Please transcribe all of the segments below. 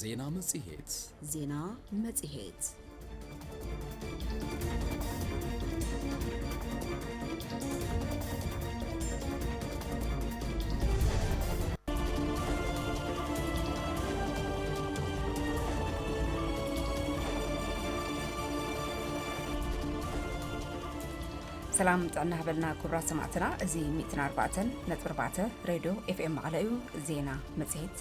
ዜና መጽሔት ዜና መጽሔት ሰላም ጥዕና ሃበልና ክብራት ሰማዕትና እዚ 104 ነጥቢ 4 ሬድዮ ኤፍኤም መቐለ እዩ ዜና መጽሔት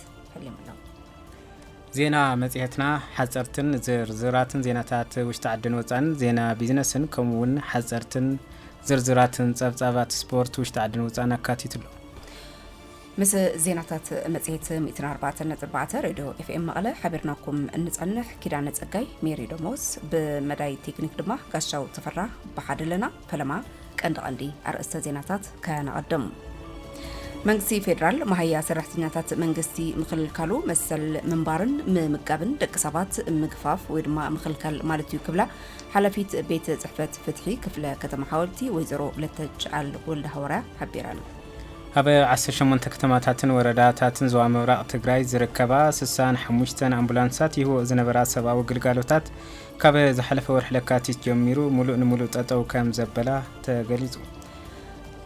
ዜና መጽሔትና ሓጸርትን ዝርዝራትን ዜናታት ውሽጢ ዓድን ወፃን ዜና ቢዝነስን ከምኡ እውን ሓጸርትን ዝርዝራትን ጸብጻባት ስፖርት ውሽጢ ዓድን ወፃን ኣካቲቱ ኣሎ ምስ ዜናታት መፅሄት 144 ሬድዮ ኤፍኤም መቐለ ሓቢርናኩም እንፀንሕ ኪዳነ ፀጋይ ሜሪ ደሞስ ብመዳይ ቴክኒክ ድማ ጋሻው ተፈራ ብሓደ ኣለና ፈለማ ቀንዲ ቀንዲ ኣርእስተ ዜናታት ከነቐድም። መንግስቲ ፌዴራል መሃያ ሰራሕተኛታት መንግስቲ ምክልካሉ መሰል ምንባርን ምምጋብን ደቂ ሰባት ምግፋፍ ወይ ድማ ምክልከል ማለት እዩ ክብላ ሓላፊት ቤት ፅሕፈት ፍትሒ ክፍለ ከተማ ሓወልቲ ወይዘሮ ለተጭኣል ወልደ ሃዋርያ ሓቢረን። ኣብ 18 ከተማታትን ወረዳታትን ዞባ ምብራቕ ትግራይ ዝርከባ 65 ኣምቡላንሳት ይህብኦ ዝነበራ ሰብኣዊ ግልጋሎታት ካብ ዝሓለፈ ወርሒ ለካቲት ጀሚሩ ሙሉእ ንሙሉእ ጠጠው ከም ዘበላ ተገሊፁ።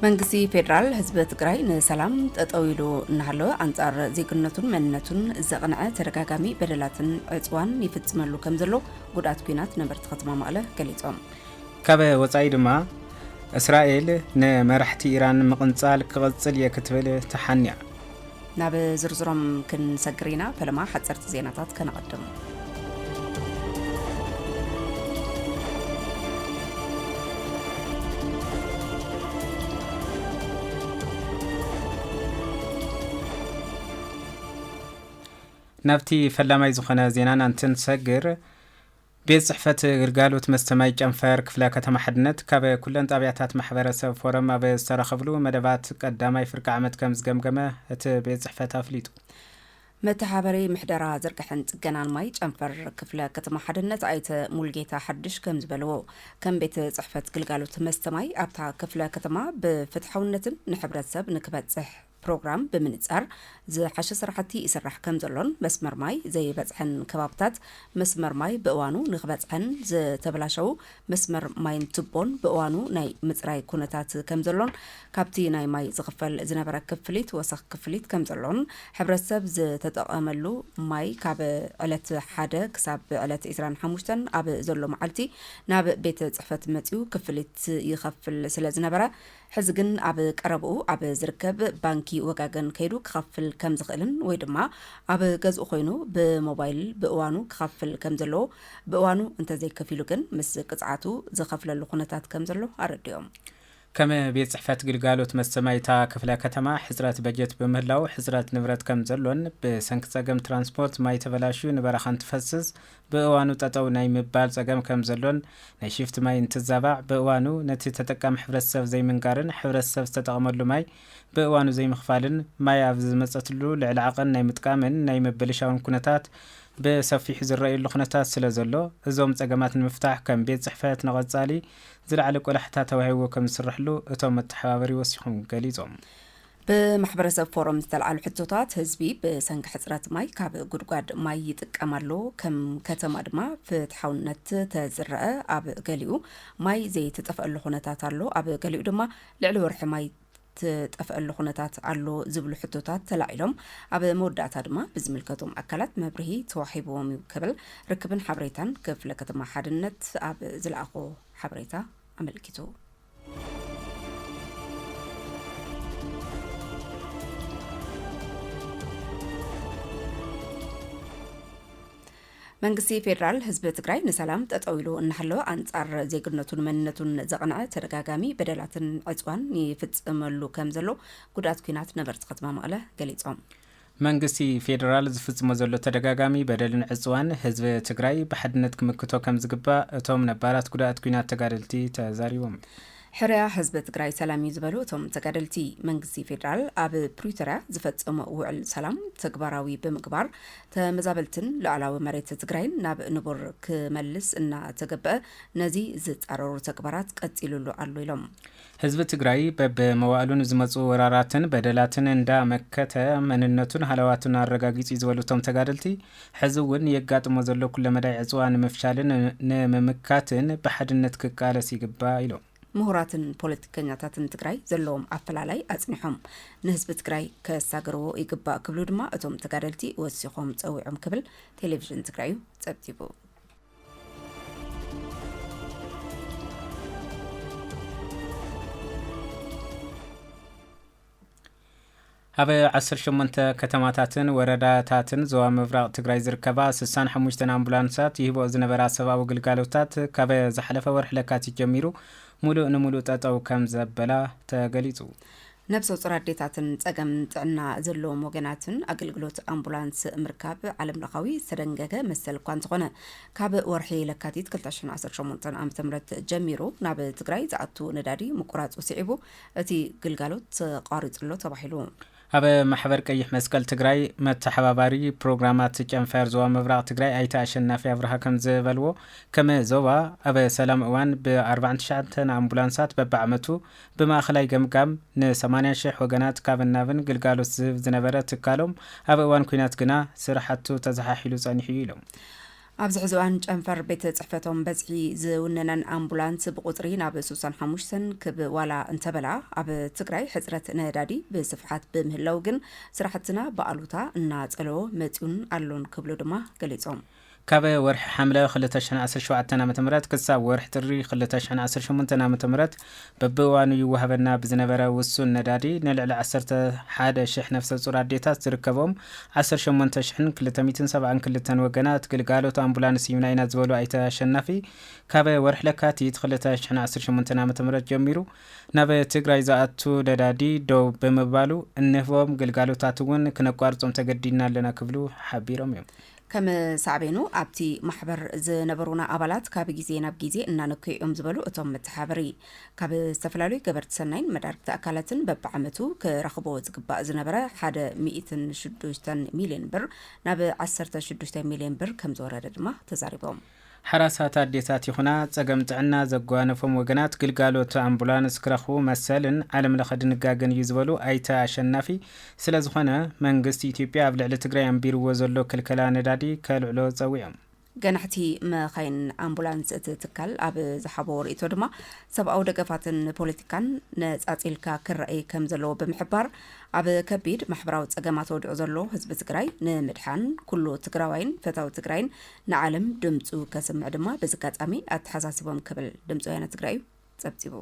መንግስቲ ፌዴራል ህዝቢ ትግራይ ንሰላም ጠጠው ኢሉ እናሃለወ ኣንጻር ዜግነቱን መንነቱን ዘቕንዐ ተደጋጋሚ በደላትን ዕፅዋን ይፍፅመሉ ከም ዘሎ ጉድኣት ኩናት ነበርቲ ከተማ መቐለ ገሊፆም። ካብ ወፃኢ ድማ እስራኤል ንመራሕቲ ኢራን ምቕንጻል ክቕጽል እየ ክትብል ተሓንያ። ናብ ዝርዝሮም ክንሰግር ኢና፣ ፈለማ ሓጸርቲ ዜናታት ከነቐድም። ናብቲ ፈላማይ ዝኾነ ዜናና እንትንሰግር ቤት ፅሕፈት ግልጋሎት መስተ ማይ ጨንፈር ክፍለ ከተማ ሓድነት ካብ ኩለን ጣብያታት ማሕበረሰብ ፎረም ኣብ ዝተረኸብሉ መደባት ቀዳማይ ፍርቂ ዓመት ከምዝገምገመ እቲ ቤት ፅሕፈት ኣፍሊጡ። መተሓበሪ ምሕደራ ዝርግሐን ፅገናን ማይ ጨንፈር ክፍለ ከተማ ሓድነት ኣይተ ሙሉጌታ ሓዱሽ ከምዝበልዎ ከም ቤት ፅሕፈት ግልጋሎት መስተ ማይ ኣብታ ክፍለ ከተማ ብፍትሓውነትን ንሕብረተሰብ ንክበፅሕ ፕሮግራም ብምንፃር ዝሓሸ ስራሕቲ ይስራሕ ከምዘሎን መስመር ማይ ዘይበፅሐን ከባብታት መስመር ማይ ብእዋኑ ንክበፅሐን ዝተበላሸዉ መስመር ማይን ቱቦን ብእዋኑ ናይ ምፅራይ ኩነታት ከምዘሎን ካብቲ ናይ ማይ ዝኽፈል ዝነበረ ክፍሊት ወሰኽ ክፍሊት ከምዘሎን ሕብረተሰብ ዝተጠቐመሉ ማይ ካብ ዕለት ሓደ ክሳብ ዕለት ዕስራን ሓሙሽተን ኣብ ዘሎ መዓልቲ ናብ ቤት ፅሕፈት መፂኡ ክፍሊት ይኸፍል ስለዝነበረ ሕዚ ግን ኣብ ቀረብኡ ኣብ ዝርከብ ባንኪ ወጋገን ከይዱ ክኸፍል ከም ዝኽእልን ወይ ድማ ኣብ ገዝኡ ኮይኑ ብሞባይል ብእዋኑ ክኸፍል ከም ዘለዎ፣ ብእዋኑ እንተዘይከፊሉ ግን ምስ ቅፅዓቱ ዝኸፍለሉ ኩነታት ከም ዘሎ ኣረዲኦም። ከም ቤት ፅሕፈት ግልጋሎት መስተ ማይ እታ ክፍለ ከተማ ሕፅረት በጀት ብምህላዉ ሕፅረት ንብረት ከም ዘሎን ብሰንኪ ፀገም ትራንስፖርት ማይ ተበላሽዩ ንበረኻ እንትፈስስ ብእዋኑ ጠጠው ናይ ምባል ፀገም ከምዘሎን ናይ ሽፍት ማይ እንትዛባዕ ብእዋኑ ነቲ ተጠቃሚ ሕብረተሰብ ዘይምንጋርን ሕብረተሰብ ዝተጠቐመሉ ማይ ብእዋኑ ዘይምኽፋልን ማይ ኣብ ዝመፀትሉ ልዕሊ ዓቐን ናይ ምጥቃምን ናይ ምብልሻውን ኩነታት ብሰፊሑ ዝረኣየሉ ኩነታት ስለዘሎ እዞም ፀገማት ንምፍታሕ ከም ቤት ፅሕፈት ንቐፃሊ ዝለዓለ ቆላሕታ ተዋሂብዎ ከምዝስረሐሉ እቶም መተሓባበሪ ወሲኾም ገሊፆም። ብማሕበረሰብ ፎረም ዝተልዓሉ ሕቶታት፣ ህዝቢ ብሰንኪ ሕፅረት ማይ ካብ ጉድጓድ ማይ ይጥቀም ኣሎ፣ ከም ከተማ ድማ ፍትሓውነት ተዝረኣ ኣብ ገሊኡ ማይ ዘይትጠፍኣሉ ኩነታት ኣሎ፣ ኣብ ገሊኡ ድማ ልዕሊ ወርሒ ማይ ትጠፍኣሉ ኩነታት ኣሎ ዝብሉ ሕቶታት ተላዒሎም ኣብ መወዳእታ ድማ ብዝምልከቶም ኣካላት መብርሂ ተዋሂብዎም እዩ ክብል ርክብን ሓበሬታን ክፍለ ከተማ ሓድነት ኣብ ዝለኣኾ ሓበሬታ ኣመልኪቱ። መንግስቲ ፌዴራል ህዝቢ ትግራይ ንሰላም ጠጠው ኢሉ እናሃለወ ኣንጻር ዜግነቱን መንነቱን ዘቕንዐ ተደጋጋሚ በደላትን ዕፅዋን ይፍፅመሉ ከም ዘሎ ጉዳት ኩናት ነበርቲ ከተማ መቐለ ገሊፆም። መንግስቲ ፌደራል ዝፍፅሞ ዘሎ ተደጋጋሚ በደልን ዕፅዋን ህዝቢ ትግራይ ብሓድነት ክምክቶ ከምዝግባእ እቶም ነባራት ጉዳእት ኲናት ተጋደልቲ ተዛሪቦም። ሕርያ ህዝቢ ትግራይ ሰላም እዩ ዝበሉ እቶም ተጋደልቲ፣ መንግስቲ ፌደራል ኣብ ፕሪቶርያ ዝፈፀሞ ውዕል ሰላም ተግባራዊ ብምግባር ተመዛበልትን ሉኣላዊ መሬት ትግራይን ናብ ንቡር ክመልስ እናተገበእ ነዚ ዝፃረሩ ተግባራት ቀፂሉሉ ኣሎ ኢሎም። ህዝቢ ትግራይ በብመዋእሉ ንዝመፁ ወራራትን በደላትን እንዳ መከተ መንነቱን ሃለዋቱን ኣረጋጊፁ ዩ ዝበሉ እቶም ተጋደልቲ፣ ሕዚ ውን ንየጋጥሞ ዘሎ ኩለመዳይ ዕፅዋ ንምፍሻልን ንምምካትን ብሓድነት ክቃለስ ይግባእ ኢሎም። ምሁራትን ፖለቲከኛታትን ትግራይ ዘለዎም ኣፈላላይ ኣፅኒሖም ንህዝቢ ትግራይ ከሳግርዎ ይግባእ ክብሉ ድማ እቶም ተጋደልቲ ወሲኾም ፀዊዖም ክብል ቴሌቪዥን ትግራይ ዩ ፀብፂቡ። ኣብ 18 ከተማታትን ወረዳታትን ዞባ ምብራቕ ትግራይ ዝርከባ 65 ኣምቡላንሳት ይህቦ ዝነበራ ሰብኣዊ ግልጋሎታት ካብ ዝሓለፈ ወርሒ ለካቲት ጀሚሩ ሙሉእ ንሙሉእ ጠጠው ከም ዘበላ ተገሊፁ። ነብሰ-ጾር ኣዴታትን ጸገም ጥዕና ዘለዎም ወገናትን ኣገልግሎት ኣምቡላንስ ምርካብ ዓለምለኻዊ ዝተደንገገ መሰል እኳ እንተኾነ፣ ካብ ወርሒ ለካቲት ክልተ ሽሕን ዓሰርተ ሸሞንተን ዓመተ ምህረት ጀሚሩ ናብ ትግራይ ዝኣቱ ነዳዲ ምቁራጹ ስዒቡ እቲ ግልጋሎት ተቋሪጹ'ሎ ተባሂሉ። ኣብ ማሕበር ቀይሕ መስቀል ትግራይ መተሓባባሪ ፕሮግራማት ጨንፈር ዞባ ምብራቕ ትግራይ ኣይተ ኣሸናፊ ኣብርሃ ከምዝበልዎ፣ ከም ዞባ ኣብ ሰላም እዋን ብ ኣርባዕን ትሽዓተን ኣምቡላንሳት በብዓመቱ ብማእኸላይ ገምጋም ን ሰማንያ ሽሕ ወገናት ካብን ናብን ግልጋሎት ዝህብ ዝነበረ ትካሎም ኣብ እዋን ኲናት ግና ስራሕቱ ተዘሓሒሉ ፀኒሑ ዩ ኢሎም። ኣብዚ ሕዚ እዋን ጨንፈር ቤት ፅሕፈቶም በዝሒ ዝውነነን ኣምቡላንስ ብቑፅሪ ናብ ሱሳን ሓሙሽተን ክብ ዋላ እንተበላ ኣብ ትግራይ ሕፅረት ነዳዲ ብስፍሓት ብምህላዉ ግን ስራሕትና ብኣሉታ እናፀለዎ መፂኡን ኣሎን ክብሉ ድማ ገሊፆም። ካብ ወርሒ ሓምለ ክልተ ሽሕን ዓሰርተ ሸውዓተን ዓመተ ምህረት ክሳብ ወርሒ ጥሪ ክልተ ሽሕን ዓሰርተ ሸሞንተን ዓመተ ምህረት በብእዋኑ ይወሃበና ብዝነበረ ውሱን ነዳዲ ንልዕሊ ዓሰርተ ሓደ ሽሕ ነፍሰጹር ኣዴታት ዝርከብኦም ዓሰርተ ሸሞንተ ሽሕን ክልተ ሚእትን ሰብዓን ክልተን ወገናት ግልጋሎት ኣምቡላንስ ሂብና ኢና ዝበሉ ኣይተ ኣሸናፊ ካብ ወርሒ ለካቲት ክልተ ሽሕን ዓሰርተ ሸሞንተን ዓመተ ምህረት ጀሚሩ ናብ ትግራይ ዝኣቱ ነዳዲ ደው ብምባሉ እንህቦም ግልጋሎታት እውን ክነቋርጾም ተገዲድና ኣለና ክብሉ ሓቢሮም እዮም። ከም ሳዕቤኑ ኣብቲ ማሕበር ዝነበሩና ኣባላት ካብ ግዜ ናብ ግዜ እናነከዩ እዮም ዝበሉ እቶም መተሓበሪ፣ ካብ ዝተፈላለዩ ገበርቲ ሰናይን መዳርግቲ ኣካላትን በብዓመቱ ክረኽቦ ዝግባእ ዝነበረ ሓደ ሚእትን ሽዱሽተን ሚልዮን ብር ናብ ዓሰርተ ሽዱሽተ ሚልዮን ብር ከምዝወረደ ድማ ተዛሪቦም። ሕራሳት ኣዴታት ይኹና ፀገም ጥዕና ዘጓነፎም ወገናት ግልጋሎት ኣምቡላንስ ክረኽቡ መሰልን ዓለም ለኸ ድንጋገን እዩ ዝበሉ ኣይተ ኣሸናፊ፣ ስለዝኾነ መንግስቲ ኢትዮጵያ ኣብ ልዕሊ ትግራይ ኣንቢርዎ ዘሎ ክልከላ ነዳዲ ከልዕሎ ፀዊዖም። ገናሕቲ መኻይን ኣምቡላንስ እቲ ትካል ኣብ ዝሓቦ ርእይቶ ድማ ሰብኣዊ ደገፋትን ፖለቲካን ነፃፂልካ ክረኣይ ከምዘለዎ ብምሕባር ኣብ ከቢድ ማሕበራዊ ፀገማት ወዲቑ ዘሎ ህዝቢ ትግራይ ንምድሓን ኩሉ ትግራዋይን ፈታዊ ትግራይን ንዓለም ድምጹ ከስምዕ ድማ በዚ ኣጋጣሚ ኣተሓሳሲቦም ክብል ድምፂ ወያነ ትግራይ እዩ ጸብጺቡ።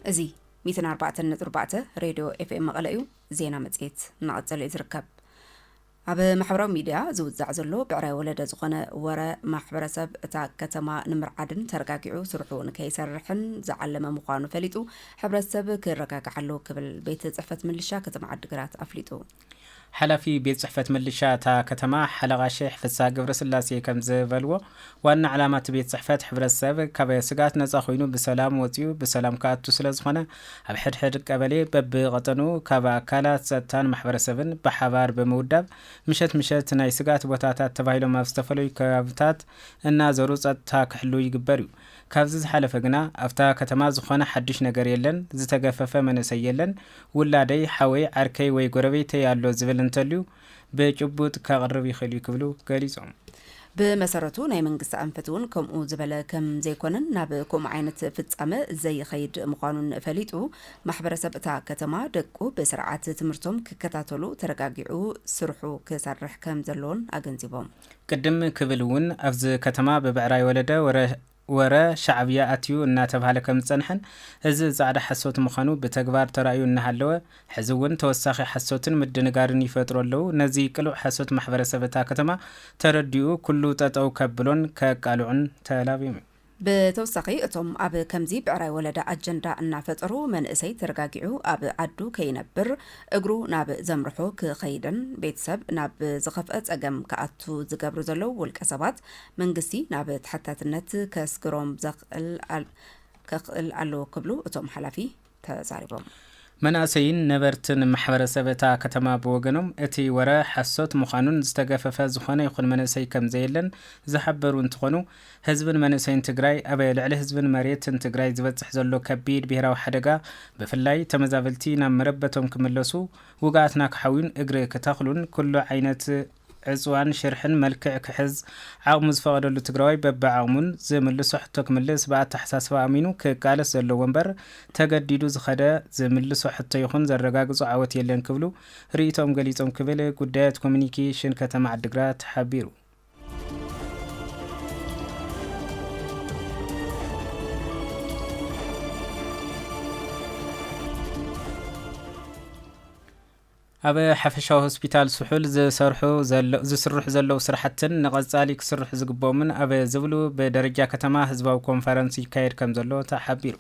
እዚ ሚትን ኣርባዕተን ነጥቢ ኣርባዕተ ሬድዮ ኤፍኤም መቐለ እዩ ዜና መጽሔት እናቐጸለ እዩ ዝርከብ ኣብ ማሕበራዊ ሚድያ ዝውዛዕ ዘሎ ብዕራይ ወለደ ዝኾነ ወረ፣ ማሕበረሰብ እታ ከተማ ንምርዓድን ተረጋጊዑ ስርሑ ንከይሰርሕን ዝዓለመ ምዃኑ ፈሊጡ ሕብረተሰብ ክረጋጋዕ ኣለዎ ክብል ቤት ፅሕፈት ምልሻ ከተማ ዓዲግራት ኣፍሊጡ። ሓላፊ ቤት ፅሕፈት ምልሻ እታ ከተማ ሓለቓ ሼሕ ፍስሃ ገብረስላሴ ከምዝበልዎ፣ ዋና ዕላማ እቲ ቤት ፅሕፈት ሕብረተሰብ ካብ ስግኣት ነፃ ኮይኑ ብሰላም ወፂኡ ብሰላም ክኣቱ ስለዝኾነ ኣብ ሕድሕድ ቀበሌ በብቐጠኑ ካብ ኣካላት ፀጥታን ማሕበረሰብን ብሓባር ብምውዳብ ምሸት ምሸት ናይ ስግኣት ቦታታት ተባሂሎም ኣብ ዝተፈለዩ ከባብታት እናዘሩ ፀጥታ ክሕልው ይግበር ዩ። ካብዚ ዝሓለፈ ግና ኣብታ ከተማ ዝኾነ ሓዱሽ ነገር የለን፣ ዝተገፈፈ መንእሰይ የለን፣ ውላደይ፣ ሓወይ፣ ዓርከይ ወይ ጎረቤተይ ኣሎ ዝብል እንተልዩ ብጭቡጥ ከቕርብ ይኽእል'ዩ ክብሉ ገሊጾም። ብመሰረቱ ናይ መንግስቲ ኣንፈት እውን ከምኡ ዝበለ ከም ዘይኮነን ናብ ከምኡ ዓይነት ፍጻመ ዘይኸይድ ምዃኑን ፈሊጡ፣ ማሕበረሰብ እታ ከተማ ደቁ ብስርዓት ትምህርቶም ክከታተሉ ተረጋጊዑ ስርሑ ክሰርሕ ከም ዘለዎን ኣገንዚቦም። ቅድም ክብል እውን ኣብዚ ከተማ ብብዕራይ ወለደ ወረ ወረ ሻዕብያ ኣትዩ እናተብሃለ ከምዝፀንሐን እዚ ፃዕዳ ሓሶት ምዃኑ ብተግባር ተራእዩ እናሃለወ ሕዚ እውን ተወሳኺ ሓሶትን ምድንጋርን ይፈጥሩ ኣለው። ነዚ ቅሉዕ ሓሶት ማሕበረሰብ እታ ከተማ ተረዲኡ ኩሉ ጠጠው ከብሎን ከቃልዑን ተላብዮም እዩ። ብተወሳኺ እቶም ኣብ ከምዚ ብዕራይ ወለዳ ኣጀንዳ እናፈጠሩ መንእሰይ ተረጋጊዑ ኣብ ዓዱ ከይነብር እግሩ ናብ ዘምርሖ ክኸይድን ቤተሰብ ናብ ዝኸፍኣ ፀገም ክኣቱ ዝገብሩ ዘለው ውልቀ ሰባት መንግስቲ ናብ ተሓታትነት ከስግሮም ከኽእል ኣለዎ ክብሉ እቶም ሓላፊ ተዛሪቦም። መናእሰይን ነበርትን ማሕበረሰብ እታ ከተማ ብወገኖም እቲ ወረ ሓሶት ምዃኑን ዝተገፈፈ ዝኾነ ይኹን መንእሰይ ከምዘየለን ዝሓበሩ እንትኾኑ ህዝብን መንእሰይን ትግራይ ኣብ ልዕሊ ህዝብን መሬትን ትግራይ ዝበፅሕ ዘሎ ከቢድ ብሄራዊ ሓደጋ ብፍላይ ተመዛበልቲ ናብ መረበቶም ክምለሱ ውግኣትና ክሓውዩን እግሪ ክተኽሉን ኩሉ ዓይነት ዕፅዋን ሽርሕን መልክዕ ክሕዝ ዓቕሙ ዝፈቐደሉ ትግራዋይ በቢዓቕሙን ዝምልሶ ሕቶ ክምልስ ብኣተሓሳስባ ኣሚኑ ክቃለስ ዘለዎ እምበር ተገዲዱ ዝኸደ ዝምልሶ ሕቶ ይኹን ዘረጋግፆ ዓወት የለን ክብሉ ርኢቶኦም ገሊፆም ክብል ጉዳያት ኮሙኒኬሽን ከተማ ዓዲግራት ሓቢሩ። ኣብ ሓፈሻዊ ሆስፒታል ስሑል ዝሰርሑ ዘለ ዝስርሑ ዘለዉ ስራሕትን ንቐፃሊ ክስርሑ ዝግበኦምን ኣብ ዝብሉ ብደረጃ ከተማ ህዝባዊ ኮንፈረንስ ይካየድ ከምዘሎ ተሓቢሩ።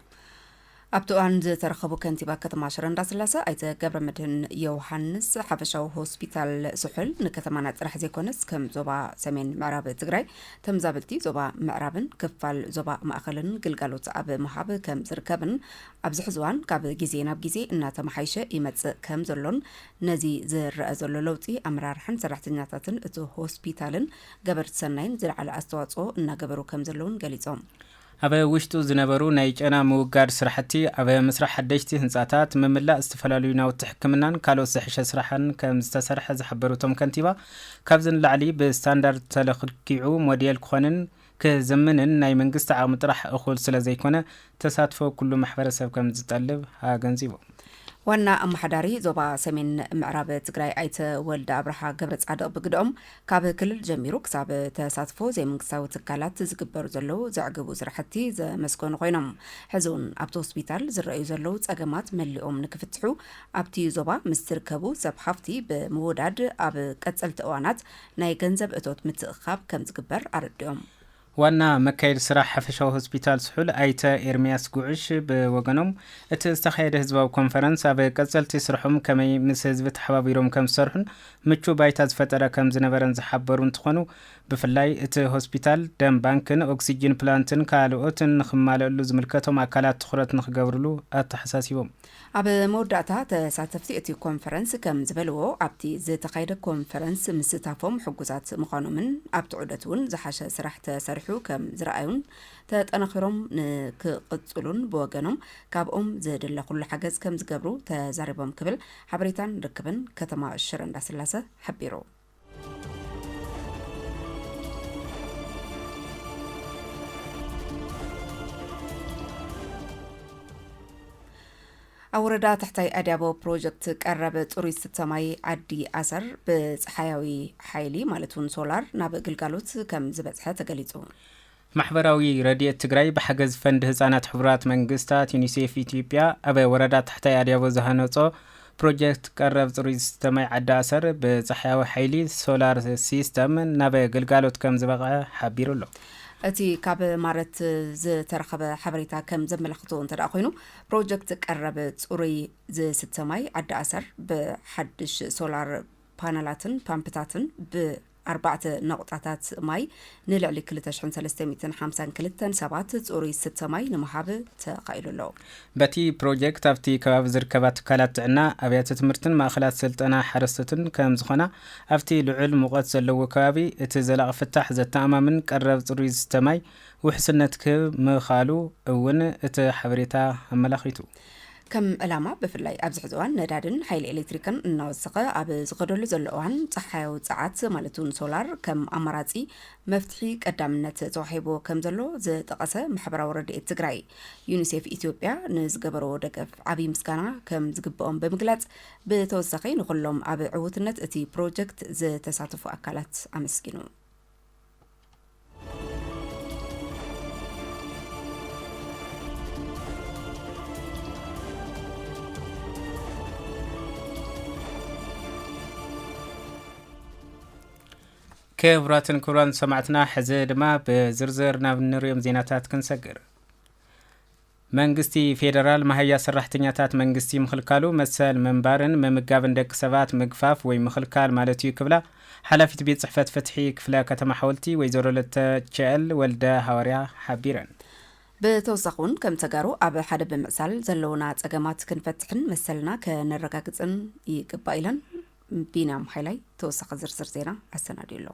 ኣብቲ እዋን ዝተረኸቡ ከንቲባ ከተማ ሽረ እንዳስላሰ ኣይተ ገብረመድህን ዮውሃንስ፣ ሓፈሻዊ ሆስፒታል ስሑል ንከተማና ጥራሕ ዘይኮነስ ከም ዞባ ሰሜን ምዕራብ ትግራይ ተምዛበልቲ ዞባ ምዕራብን ክፋል ዞባ ማእኸልን ግልጋሎት ኣብ ምሃብ ከምዝርከብን ኣብዚ ሕዚ እዋን ካብ ግዜ ናብ ግዜ እናተመሓየሸ ይመፅእ ከም ዘሎን ነዚ ዝረኣ ዘሎ ለውጢ ኣመራርሓን ሰራሕተኛታትን እቲ ሆስፒታልን ገበርቲ ሰናይን ዝለዓለ ኣስተዋፅኦ እናገበሩ ከም ዘለውን ገሊፆም። ኣብ ውሽጡ ዝነበሩ ናይ ጨና ምውጋድ ስራሕቲ፣ ኣብ ምስራሕ ሓደሽቲ ህንፃታት፣ ምምላእ ዝተፈላለዩ ናውቲ ሕክምናን ካልኦት ዝሐሸ ስራሕን ከም ዝተሰርሐ ዝሓበሩ እቶም ከንቲባ ካብዚ ንላዕሊ ብስታንዳርድ ተለክኪዑ ሞዴል ክኾንን ክዝምንን ናይ መንግስቲ ዓቕሚ ጥራሕ እኹል ስለዘይኮነ ተሳትፎ ኩሉ ማሕበረሰብ ከምዝጠልብ ኣገንዚቡ። ዋና ኣመሓዳሪ ዞባ ሰሜን ምዕራብ ትግራይ ኣይተ ወልደኣብርሃ ገብረፃድቕ ብግደኦም፣ ካብ ክልል ጀሚሩ ክሳብ ተሳትፎ ዘይመንግስታዊ ትካላት ዝግበሩ ዘለዉ ዘዕግቡ ስራሕቲ ዘመስገኑ ኮይኖም፣ ሕዚ ውን ኣብቲ ሆስፒታል ዝረኣዩ ዘለዉ ፀገማት መሊኦም ንክፍትሑ ኣብቲ ዞባ ምስ ዝርከቡ ሰብ ሃፍቲ ብምውዳድ ኣብ ቀፀልቲ እዋናት ናይ ገንዘብ እቶት ምትእኽኻብ ከምዝግበር ኣረዲኦም። ዋና መካየዲ ስራሕ ሓፈሻዊ ሆስፒታል ስሑል ኣይተ ኤርምያስ ጉዕሽ ብወገኖም፣ እቲ ዝተኻየደ ህዝባዊ ኮንፈረንስ ኣብ ቀፀልቲ ስርሖም ከመይ ምስ ህዝቢ ተሓባቢሮም ከምዝሰርሑን ምቹው ባይታ ዝፈጠረ ከምዝነበረን ዝሓበሩ እንትኾኑ ብፍላይ እቲ ሆስፒታል ደም ባንክን ኦክሲጂን ፕላንትን ካልኦትን ንክማለእሉ ዝምልከቶም ኣካላት ትኹረት ንክገብርሉ ኣተሓሳሲቦም። ኣብ መወዳእታ ተሳተፍቲ እቲ ኮንፈረንስ ከም ዝበልዎ ኣብቲ ዝተኻየደ ኮንፈረንስ ምስታፎም ሕጉሳት ምዃኖምን ኣብቲ ዑደት እውን ዝሓሸ ስራሕ ተሰሪሑ ከም ዝረኣዩን ተጠናኺሮም ንክቕፅሉን ብወገኖም ካብኦም ዝድለ ኩሉ ሓገዝ ከም ዝገብሩ ተዛሪቦም ክብል ሓበሬታን ርክብን ከተማ ሽረ እንዳስላሰ ሓቢሩ። ኣብ ወረዳ ትሕታይ ኣድያቦ ፕሮጀክት ቀረብ ፅሩይ ዝስተ ማይ ዓዲ ኣሰር ብፀሓያዊ ሓይሊ ማለት እውን ሶላር ናብ ግልጋሎት ከም ዝበፅሐ ተገሊፁ ማሕበራዊ ረድኤት ትግራይ ብሓገዝ ፈንድ ህፃናት ሕቡራት መንግስታት፣ ዩኒሴፍ ኢትዮጵያ፣ ኣብ ወረዳ ታሕታይ ኣድያቦ ዝሃነፆ ፕሮጀክት ቀረብ ፅሩይ ዝስተ ማይ ዓዲ ኣሰር ብፃሕያዊ ሓይሊ፣ ሶላር ሲስተም፣ ናብ ግልጋሎት ከምዝበቕዐ ሓቢሩ ኣሎ። እቲ ካብ ማረት ዝተረኸበ ሓበሬታ ከም ዘመላኽቶ እንተደኣ ኮይኑ ፕሮጀክት ቀረብ ፅሩይ ዝስተ ማይ ዓዲ ኣሰር ብሓድሽ ሶላር ፓነላትን ፓምፕታትን ብ ኣርባዕተ ነቑጣታት ማይ ንልዕሊ ክልተ ሽሕን ሰለስተ ሚእትን ሓምሳን ክልተን ሰባት ጽሩይ ዝስተ ማይ ንምሃብ ተኻኢሉ ኣሎ። በቲ ፕሮጀክት ኣብቲ ከባቢ ዝርከባ ትካላት ጥዕና፣ ኣብያተ ትምህርትን ማእኸላት ስልጠና ሓረስቶትን ከምዝኾና፣ ኣብቲ ልዑል ሙቐት ዘለዎ ከባቢ እቲ ዘላቒ ፍታሕ ዘተኣማምን ቀረብ ጽሩይ ዝስተ ማይ ውሕስነት ክህብ ምኽኣሉ እውን እቲ ሓበሬታ ኣመላኺቱ። ከም ዕላማ ብፍላይ ኣብዚ ሕዚ እዋን ነዳድን ሓይሊ ኤሌክትሪክን እናወሰኸ ኣብ ዝኸደሉ ዘሎ እዋን ፀሓያዊ ፀዓት ማለት እውን ሶላር ከም ኣማራፂ መፍትሒ ቀዳምነት ተዋሂቦ ከም ዘሎ ዝጠቐሰ ማሕበራዊ ረድኤት ትግራይ ዩኒሴፍ ኢትዮጵያ ንዝገበረዎ ደገፍ ዓብዪ ምስጋና ከም ዝግብኦም ብምግላፅ ብተወሳኺ ንኩሎም ኣብ ዕውትነት እቲ ፕሮጀክት ዝተሳተፉ ኣካላት ኣመስጊኑ። ክቡራትን ክቡራን ሰማዕትና ሕዚ ድማ ብዝርዝር ናብ ንሪኦም ዜናታት ክንሰግር መንግስቲ ፌደራል መሃያ ሰራሕተኛታት መንግስቲ ምኽልካሉ መሰል ምንባርን ምምጋብን ደቂ ሰባት ምግፋፍ ወይ ምኽልካል ማለት እዩ ክብላ ሓላፊት ቤት ፅሕፈት ፍትሒ ክፍለ ከተማ ሓወልቲ ወይዘሮ ለተቸኤል ወልደሃዋርያ ሓቢረን። ብተወሳኺ እውን ከም ተጋሩ ኣብ ሓደ ብምዕሳል ዘለውና ፀገማት ክንፈትሕን መሰልና ከነረጋግፅን ይግባእ ኢለን። ቢንያም ሃይላይ ተወሳኺ ዝርዝር ዜና ኣሰናዲዩ ኣሎ።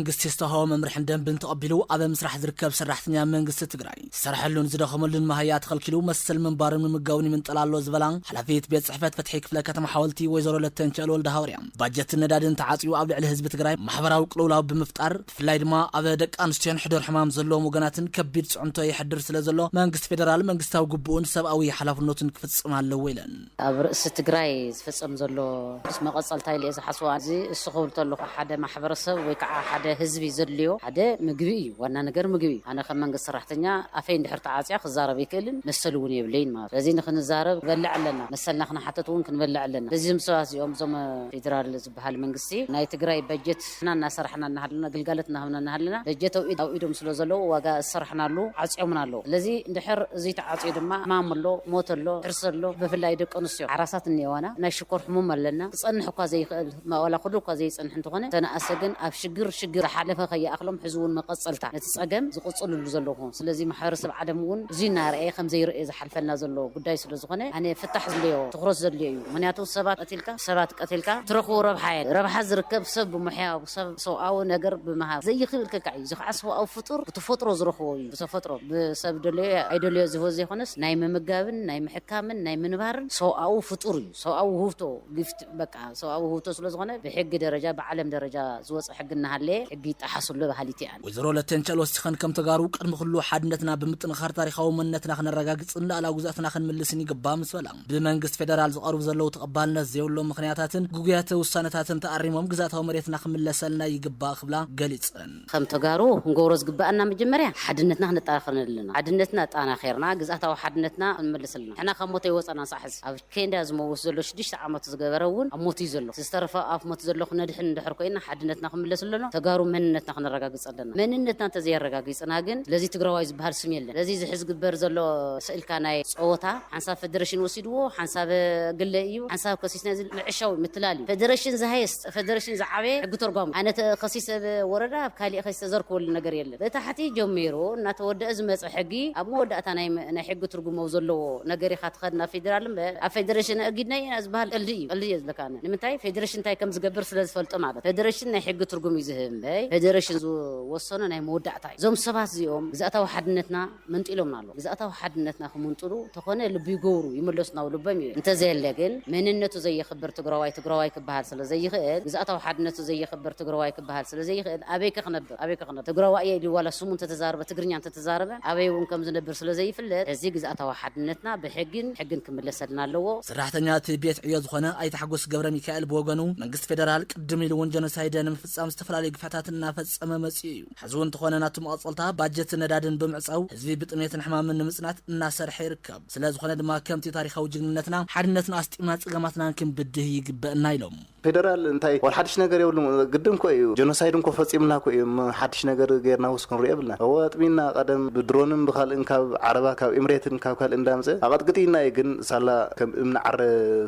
መንግስቲ ዝተውሃቦ መምርሕን ደንብን ተቐቢሉ ኣብ ምስራሕ ዝርከብ ሰራሕተኛ መንግስቲ ትግራይ ዝሰርሐሉን ዝደኸመሉን መሃያ ተኸልኪሉ መሰል ምንባሩን ምምጋቡን ይምንጠል ኣሎ ዝበላ ሓላፊት ቤት ፅሕፈት ፍትሒ ክፍለ ከተማ ሓወልቲ ወይዘሮ ለተንቸእል ወልደሃዋርያ ባጀትን ነዳድን ተዓፅዩ ኣብ ልዕሊ ህዝቢ ትግራይ ማሕበራዊ ቅልውላው ብምፍጣር ብፍላይ ድማ ኣብ ደቂ ኣንስትዮን ሕዱር ሕማም ዘለዎም ወገናትን ከቢድ ፅዕንቶ የሕድር ስለዘሎ መንግስቲ ፌደራል መንግስታዊ ግቡኡን ሰብኣዊ ሓላፍነቱን ክፍፅም ኣለዎ ኢለን። ኣብ ርእሲ ትግራይ ዝፍጸም ዘሎ ምስ መቐጸልታ ኢለ'የ ዝሓስቦ። እዚ እሱ ክብል ተለኹ ሓደ ማሕበረሰብ ወይ ከዓ ሓደ ህዝቢ ዘድልዮ ሓደ ምግቢ እዩ። ዋና ነገር ምግቢ እዩ። ኣነ ከም መንግስቲ ሰራሕተኛ ኣፈይ እንድሕር ተዓጽዮ ክዛረብ ኣይክእልን መሰል እውን የብለይን ማለት እዩ። ስለዚ ንክንዛረብ ክንበልዕ ኣለና። መሰልና ክንሓትት እውን ክንበልዕ ኣለና። ስለዚ እዞም ሰባት እዚኦም እዞም ፌደራል በሃሊ መንግስቲ ናይ ትግራይ በጀት ንሕና እናሰራሕና እናሃለና ግልጋሎት እናሃብና እናሃለና በጀት ኣብ ኢድ ኣብ ኢዶም ስለ ዘለዉ ዋጋ ዝሰራሕናሉ ዓፅዮምና ኣለዉ ስለዚ እንድሕር እዙይ ተዓፅዩ ድማ ሕማም ኣሎ ሞት ኣሎ ሕርሲ ኣሎ ብፍላይ ደቂ ኣንስትዮ ሓራሳት እኒኤዋና ናይ ሽኮር ሕሙም ኣለና ክፀንሕ እኳ ዘይኽእል ዋላ ኩሉ እኳ ዘይፀንሕ እንተኾነ ዝተነኣሰ ግን ኣብ ሽግር ሽግር ዝሓለፈ ከይኣኽሎም ሕዚ እውን መቐፀልታ ነቲ ፀገም ዝቕፅልሉ ዘለዉ ስለዚ ማሕበረሰብ ዓለም እውን እዙይ እናረኣየ ከም ዘይረኣዮ ዝሓልፍ ዝሕልፈና ዘሎ ጉዳይ ስለ ዝኾነ ኣነ ፍታሕ ዝድልዮ ትኹረት ዘድልዮ እዩ ምኽንያቱ ሰባት ቀቲልካ ሰባት ቀቲልካ ትረኽቦ ረብሓ የለን ረብሓ ዝርከብ ሰብ ብሙሕያ ሰብ ሰብኣዊ ነገር ብምሃብ ዘይኽእል ከካዕ እዩ እዚ ኻዓ ሰብኣዊ ፍጡር ብተፈጥሮ ዝረኽቦ እዩ ብተፈጥሮ ብሰብ ደለዮ ኣይደለዮ ዝህቦ ዘይኾነስ ናይ ምምጋብን ናይ ምሕካምን ናይ ምንባርን ሰብኣዊ ፍጡር እዩ ሰብኣዊ ውህብቶ ጊፍት በቃ ሰብኣዊ ውህብቶ ስለ ዝኾነ ብሕጊ ደረጃ ብዓለም ደረጃ ዝወጸ ሕጊ እናሃለየ ሕጊ ይጠሓስ ኣሎ በሃሊት እያ። ወይዘሮ ለተንቸል ወሲኸን ከም ተጋሩ ቅድሚ ኩሉ ሓድነትና ብምጥንኻር ታሪኻዊ መንነትና ክነረጋግጽን ልኣላዊ ግዝኣትና ክንምልስን ይግባእ ምስ በላ ብመንግስቲ ፌደራል ዝቐርቡ ዘለዉ ተቐባልነት ዘይብሎም ምኽንያታትን ግጉያተ ውሳነታትን ተኣሪሞም ግዝኣታዊ መሬትና ክምለሰልና ይግባእ ክብላ ገሊጸን። ከም ተጋሩ ክንገብሮ ዝግበኣና መጀመርያ ሓድነትና ክነጠናኽር ኣለና። ሓድነትና ኣጠናኺርና ግዝኣታዊ ሓድነትና ክንምልስ ኣለና። ንሕና ካብ ሞት ኣይወጸእናን ክሳዕ ሕዚ። ኬንዳ ዝመውት ዘሎ ሽዱሽተ ዓመቱ ዝገበረ እውን ኣብ ሞት እዩ ዘሎ እቲ ዝተረፈ ኣፍ ሞት ዘሎ ክነድሕን እንድሕር ኮይና ሓድነትና ክምለስ ኣሎና ተጋሩ መንነትና ክነረጋግፅ ኣለና መንነትና እንተዘየረጋጊፅና ግን ስለዚ ትግራዋይ ዝበሃል ስም የለን ስለዚ እዚ ሕዚ ዝግበር ዘሎ ስእልካ ናይ ፀወታ ሓንሳብ ፈደረሽን ወሲድዎ ሓንሳብ ግለ እዩ ሓንሳብ ከሲስና እዚ ምዕሻው እዩ ምትላል እዩ ፈደረሽን ዝሃየስት ፈደረሽን ዝዓበየ ሕጊ ቶርጓሚ ኣነ ተኸሲስ ሰብ ወረዳ ኣብ ካሊእ ከይስ ተዘርክበሉ ነገር የለን ብታሕቲ ጀሚሩ እናተወደኣ ዝመፀ ሕጊ ኣብ መወዳእታ ናይ ናይ ሕጊ ትርጉም ኣብ ዘለዎ ነገር ኢኻ ትኸድ ናብ ፌደራል እምበር ኣብ ፈደረሽን ኣእጊድናዮ ኢና ዝበሃል ቀልዲ እዩ ቀልዲ እየ ዝብለካ ኣነ ንምንታይ ፌደረሽን እንታይ ከም ዝገብር ስለ ዝፈልጦ ማለት ፈደረሽን ናይ ሕጊ ትርጉም እዩ ዝህብ እምበይ ፈደረሽን ዝወሰኖ ናይ መወዳእታ እዩ እዞም ሰባት እዚኦም ግዝኣታዊ ሓድነትና መንጢሎምና ኣለዉ ግዝኣታዊ ሓድነትና ክምንጥሉ ተኾነ ልቢ ይገብሩ ይምለሱ ናብ ልቦም ይብል እንተዘየለ ግን መንነቱ ዘየኽብር ትግራዋይ ትግራዋይ ክበሃል ስለዘይኽእል ግዝኣታዊ ሓድነቱ ዘየኽብር ትግራዋይ ክበሃል ስለዘይኽእል ኣበይከ ክነብር ኣበይከ ክነብር ትግራዋይ እየ ኢሉ ዋላ ስሙ እንተተዛረበ ትግርኛ እንተተዛረበ ኣበይ እውን ከምዝነብር ስለዘይፍለጥ ሕዚ ግዝኣታዊ ሓድነትና ብሕግን ሕግን ክምለሰልና ኣለዎ። ሰራሕተኛ እቲ ቤት ዕዮ ዝኾነ ኣይተ ሓጎስ ገብረሚካኤል ብወገኑ መንግስቲ ፌደራል ቅድም ኢሉ እውን ጀኖሳይደ ንምፍፃም ዝተፈላለዩ ግፍዕታት እናፈፀመ መፂኡ እዩ። ሕዚ እውን እንተኾነ ናቱ መቐፀልታ ባጀትን ነዳድን ብምዕፃው ህዝቢ ብጥምየትን ሕማምን ንምፅናት እናሰርሐ ይርከብ። ስለዝኾነ ድማ ከምቲ ታሪኻዊ ጅግንነትና ሓድነትና ኣስጢምና ፀገማትናን ክንብድህ ይግበእና ኢሎም። ፌደራል እንታይ ዋላ ሓድሽ ነገር የብሉን ግድን እኮ እዩ ጀኖሳይድ እንኮ ፈፂምና እኮ እዩ እሞ ሓድሽ ነገር ገይርናውስ ክንሪኦ የብልናን እወ ኣጥሚና ቀደም ብድሮንን ብካልእን ካብ ዓረባ ካብ ኢምሬትን ካብ ካልእን እንዳምፀ ኣቐጥቅጥይና እዩ ግን ሳላ ከም እምኒ ዓረ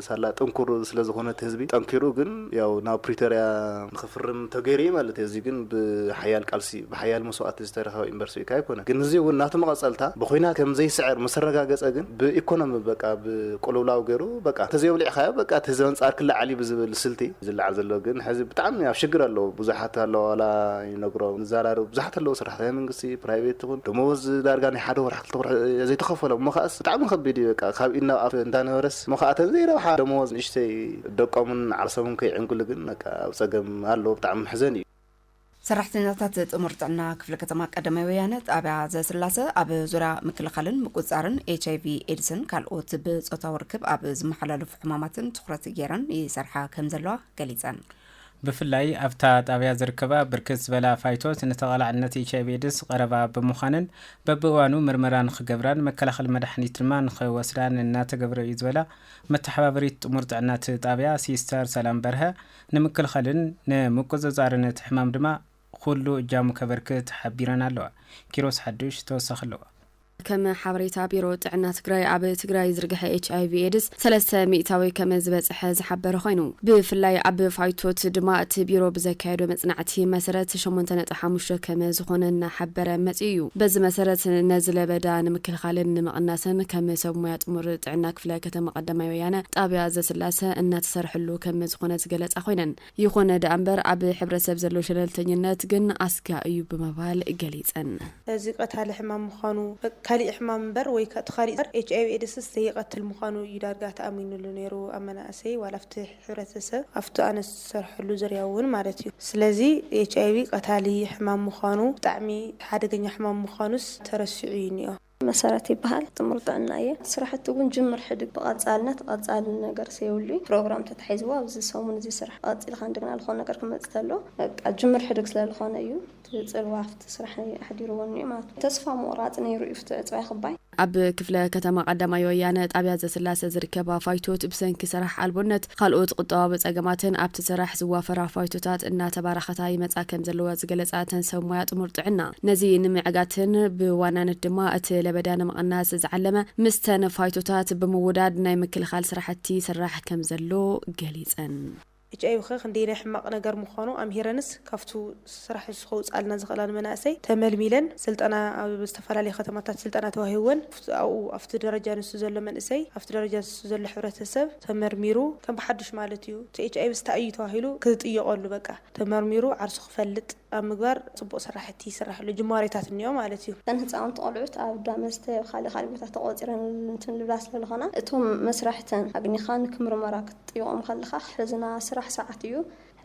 ሳላ ጥንኩር ስለዝኾነ እቲ ህዝቢ ጠንኪሩ ግን ያው ናብ ፕሪቶርያ ንክፍርም ተገይሩ እዩ ማለት እዩ። እዚ ግን ብሓያል ቃልሲ፣ ብሓያል መስዋእቲ ዝተረኸበ ኢምበርሲ እካ ኣይኮነን። ግን እዚ እውን ናቱ መቐፀልታ ብኹናት ከም ዘይስዕር ምስ ተረጋገፀ ግን ብኢኮኖሚ በቃ ብቁልውላው ገይሩ በቃ ተዘይወሊዕኻዮ በቃ እቲ ህዝቢ ኣንፃር ክለዓል እዩ ብዝብል ስልቲ ዝለዓል ዘሎ ግን ሕዚ ብጣዕሚ ኣብ ሽግር ኣለዉ ብዙሓት ኣለዋ ዋላ ይነግሮም ንዛራርብ ብዙሓት ኣለዉ ሰራሕተኛ መንግስቲ ፕራይቬት ይኹን ደመወዝ ዳርጋ ናይ ሓደ ወርሒ ክልተ ወርሒ ዘይተኸፈሎም እሞ ከኣስ ብጣዕሚ ከቢድ እዩ በቃ ካብ ኢድ ናብ ኣፍ እንዳነበረስ ስሙ ከኣ ተዘይ ረብሓ ደመወዝ ንእሽተይ ደቆምን ዓርሶምን ከይዕንግሉ ግን በቃ ኣብ ጸገም ኣለዉ ብጣዕሚ መሕዘኒ እዩ። ሰራሕተኛታት ጥሙር ጥዕና ክፍለ ከተማ ቀዳማይ ወያነ ጣብያ ዘስላሰ ኣብ ዙርያ ምክልኻልን ምቁፅፃርን ኤች ኣይቪ ኤድስን ካልኦት ብፆታዊ ርክብ ኣብ ዝመሓላለፉ ሕማማትን ትኹረት ገይረን ይሰርሓ ከምዘለዋ ገሊፀን። ብፍላይ ኣብታ ጣብያ ዝርከባ ብርክት ዝበላ ፋይቶት ንተቓላዕነት ኤችኣይቪ ኤድስ ቐረባ ብምዃነን በቢእዋኑ ምርመራ ንኽገብራን መከላኸሊ መድሓኒት ድማ ንኽወስዳን እናተገብረ እዩ ዝበላ መተሓባበሪት ጥሙር ጥዕና እቲ ጣብያ ሲስተር ሰላም በርሀ ንምክልኸልን ንምቁፅፃርን እቲ ሕማም ድማ ኹሉ እጃሙ ከበርክት ሓቢረን ኣለዋ። ኪሮስ ሓዱሽ ተወሳኺ ኣለዎ። ከም ሓበሬታ ቢሮ ጥዕና ትግራይ ኣብ ትግራይ ዝርግሐ ኤች ኣይቪ ኤድስ ሰለስተ ሚእታዊ ከም ዝበፀሐ ዝሓበረ ኾይኑ ብፍላይ ኣብ ፋይቶት ድማ እቲ ቢሮ ብዘካየዶ መፅናዕቲ መሰረት ሸሞንተ ነጥቢ ሓሙሽተ ከም ዝኾነ እናሓበረ መፂኡ እዩ። በዚ መሰረት ነዚ ለበዳ ንምክልኻልን ንምቕናስን ከም ሰብ ሞያ ጥሙር ጥዕና ክፍለ ከተማ ቐዳማይ ወያነ ጣብያ ዘስላሰ እናተሰርሐሉ ከም ዝኾነ ዝገለፃ ኾይነን ይኹነ ደኣምበር ኣብ ሕብረተሰብ ዘሎ ሸለልተኝነት ግን ኣስጋ እዩ ብምባል ገሊፀን። እዚ ቀታሊ ሕማም ምዃኑ፣ ካሊእ ሕማም እምበር ወይ እቲ ካሊእ ዘር ኤች ኣይቪ ኤድስስ ዘይቐትል ምዃኑ እዩ ዳርጋ ተኣሚንሉ ነይሩ ኣብ መናእሰይ ዋላ ኣብቲ ሕብረተሰብ ኣብቲ ኣነ ዝሰርሐሉ ዝርያ እውን ማለት እዩ። ስለዚ ኤች ኣይቪ ቀታሊ ሕማም ምዃኑ ብጣዕሚ ሓደገኛ ሕማም ምዃኑስ ተረሲዑ እዩ እኒኦ። መሰረት ይበሃል ጥሙር ጥዕና እየ ስራሕቲ እውን ጅምር ሕድግ ብቐፃልነት ቐፃሊ ነገር ሰየብሉ እዩ ፕሮግራም ተታሒዝዎ ኣብዚ ሰሙን እዚ ስራሕ ቐፂልካ እንደገና ልኾነ ነገር ክመፅእ ተሎ በቃ ጅምር ሕድግ ስለልኾነ እዩ እቲ ፅልዋ ኣብቲ ስራሕ ኣሕዲርዎ እኒኦ ማለት እዩ ተስፋ ምቑራፅ ነይሩ እዩ ፍትዕ ዕፅዋይ ክባይ። ኣብ ክፍለ ከተማ ቐዳማይ ወያነ ጣብያ ዘስላሰ ዝርከብ ኣፋይቶት ብሰንኪ ስራሕ ኣልቦነት ካልኦት ቁጠባዊ ፀገማትን ኣብቲ ስራሕ ዝዋፈራ ፋይቶታት እናተባራኸታ ይመፃ ከምዘለዋ ዝገለፃ እተን ሰብ ሞያ ጥሙር ጥዕና ነዚ ንምዕጋትን ብዋናነት ድማ እቲ ለበዳ ንምቕናስ ዝዓለመ ምስተን ፋይቶታት ብምውዳድ ናይ ምክልኻል ስራሕቲ ይስራሕ ከምዘሎ ገሊፀን። ኤች ኣይቪ ከ ክንደይ ናይ ሕማቅ ነገር ምኳኑ ኣምሂረንስ ካብቱ ስራሕ ንሱ ከውፅኣልና ዝክእላ ንመናእሰይ ተመልሚለን ስልጠና ኣብ ዝተፈላለዩ ከተማታት ስልጠና ተዋሂብወን ኣብኡ ኣብቲ ደረጃ ንሱ ዘሎ መንእሰይ ኣብቲ ደረጃ ንሱ ዘሎ ሕብረተሰብ ተመርሚሩ ከም ብሓዱሽ ማለት እዩ እቲ ኤች ኣይቪ ስታይ እዩ ተባሂሉ ክጥየቀሉ በቃ ተመርሚሩ ዓርሱ ክፈልጥ ኣብ ምግባር ፅቡቅ ስራሕቲ ይስራሕ ኣሎ ጅማሬታት እኒኦ ማለት እዩ። እተን ህፃውንቲ ቆልዑት ኣብ ዳ መስተ ኣብ ካሊእ ካሊእ ቦታ ተቆፂረን እንትን ልብላ ስለ ልኾና እቶም መስራሕተን ኣግኒኻ ንክምርመራ ክትጥይቆም ከለኻ ክሕዝና ስራሕ ሰዓት እዩ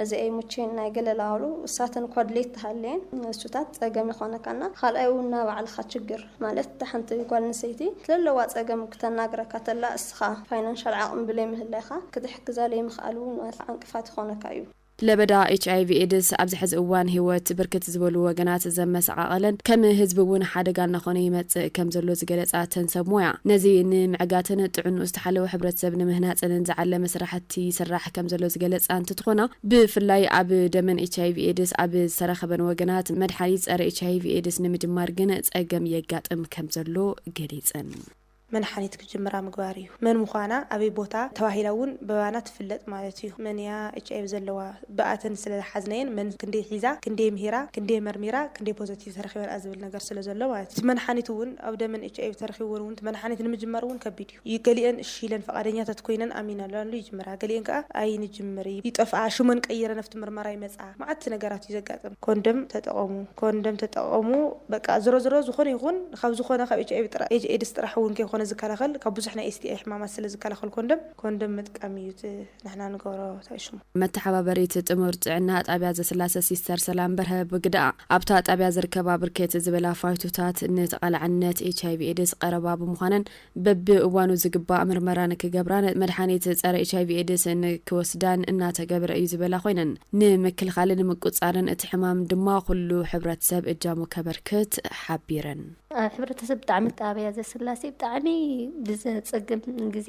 እዚ ኣይምቹይን ናይ ገለ ላሉ እሳተን እኳ ድሌት ተሃልየን ንሱታት ጸገም ይኾነካ እና ኻልኣይ ውን ናባዕልኻ ችግር ማለት እታ ሓንቲ ጓል ኣንሰይቲ ትለለዋ ጸገም ክተናግረካ ተላ እስኻ ፋይናንሻል ዓቕሚ ብለይ ምህላይኻ ክትሕግዛ ለይምኽኣል ውን ዕንቅፋት ይኾነካ እዩ። ለበዳ ኤች ኣይቪ ኤድስ ኣብዚ ሐዚ እዋን ህይወት ብርክት ዝበሉ ወገናት ዘመሰቓቐለን ከም ህዝቢ ውን ሓደጋ እናኾነ ይመፅእ ከም ዘሎ ዝገለፃ እተን ሰብ ሞያ ነዚ ንምዕጋትን ጥዕንኡ ዝተሓለወ ሕብረተሰብ ንምህናፅንን ዝዓለመ ስራሕቲ ይስራሕ ከምዘሎ ዝገለፃ እንትትኾና ብፍላይ ኣብ ደመን ኤች ኣይቪ ኤድስ ኣብ ዝተረኸበን ወገናት መድሓኒት ፀረ ኤች ኣይቪ ኤድስ ንምጅማር ግን ፀገም የጋጥም ከምዘሎ ገሊፀን። መድሓኒት ክጅምራ ምግባር እዩ። መን ምዃና ኣበይ ቦታ ተባሂላ እውን ብባና ትፍለጥ ማለት እዩ። መን እያ ኤች ኣይቪ ዘለዋ ብኣተን ስለዝሓዝናየን መን ክንደይ ሒዛ ክንደይ ምሂራ ክንደይ መርሚራ ክንደይ ፖዘቲቭ ተረኺበንኣ ዝብል ነገር ስለዘሎ ማለት እዩ። እቲ መድሓኒት እውን ኣብ ደመን ኤች ኣይቪ ተረኺብወን እውን እቲ መድሓኒት ንምጅማር እውን ከቢድ እዩ። እዩ ገሊኤን እሺ ኢለን ፍቓደኛታት ኮይነን ኣሚነናሉ ይጅምራ ገሊኤን ከኣ ኣይንጅምር ይጠፍኣ ሽመን ቀይረን ኣብቲ ምርመራ ይመጽኣ መዓት ነገራት እዩ ዘጋጥም። ኮንደም ተጠቐሙ ኮንደም ተጠቐሙ በቃ ዝሮዝሮ ዝኾነ ይኹን ካብ ዝኾነ ካብ ኤችኣይቪ ጥራይ ኤድስ ጥራሕ እውን ከይኮነ ዝከላኸል ካብ ብዙሕ ናይ STI ሕማማት ስለ ዝከላኸል ኮንደም ኮንደም ምጥቃም እዩ እቲ ንሕና ንገብሮ ታይ እዩ ሽሙ። መተሓባበሪት ጥሙር ጥዕና ጣብያ ዘስላሰ ሲስተር ሰላም በርሀ ብግደኣ፣ ኣብታ ጣብያ ዝርከባ ብርክት ዝበላ ፋይቶታት ንተቓላዕነት ኤችኣይቪ ኤድስ ቐረባ ብምዃነን፣ በቢ እዋኑ ዝግባእ ምርመራ ንክገብራን መድሓኒት ፀረ ኤች ኣይቪ ኤድስ ንክወስዳን እናተገበረ እዩ ዝበላ ኮይነን ንምክልኻልን ንምቁፃርን እቲ ሕማም ድማ ኩሉ ሕብረተሰብ እጃሙ ከበርክት ሓቢረን። ኣብ ሕብረተሰብ ብጣዕሚ ጣብያ ዘስላሴ ብጣዕሚ ብዘፀግም ግዜ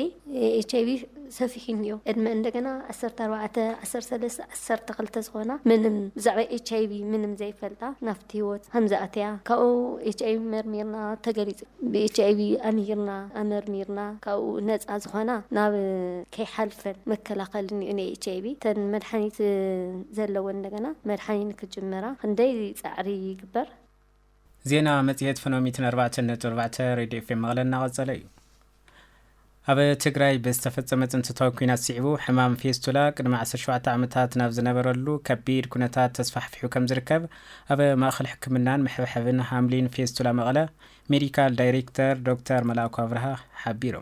ኤች ኣይቪ ሰፊሑ እኒኦ። ዕድመ እንደገና ዓሰርተ ኣርባዕተ፣ ዓሰርተ ሰለስተ፣ ዓሰርተ ክልተ ዝኾና ምንም ብዛዕባ ኤች ኣይቪ ምንም ዘይፈልጣ ናብቲ ህይወት ከምዝኣተያ ካብኡ ኤችኣይቪ መርሚርና ተገሊፁ ብኤችኣይቪ ኣምሂርና ኣመርሚርና ካብኡ ነፃ ዝኾና ናብ ከይሓልፈን መከላኸሊ እኒኦ ናይ ኤችኣይቪ እተን መድሓኒት ዘለወን እንደገና መድሓኒት ንክጅምራ ክንደይ ፃዕሪ ይግበር። ዜና መፅሄት ፍኖሚት ን ኣርባዕተ ነጥቢ ኣርባዕተ ሬድዮ ኤፍኤም መቐለ እናቐፀለ እዩ። ኣብ ትግራይ ብዝተፈጸመ ፅንተታዊ ኲናት ስዒቡ ሕማም ፌስቱላ ቅድሚ ዓሰርተ ሸውዓተ ዓመታት ናብ ዝነበረሉ ከቢድ ኩነታት ተስፋሕፊሑ ከም ዝርከብ ኣብ ማእኸል ሕክምናን መሐብሐብን ሃምሊን ፌስቱላ መቐለ ሜዲካል ዳይሬክተር ዶክተር መልኣኩ ኣብርሃ ሓቢሩ።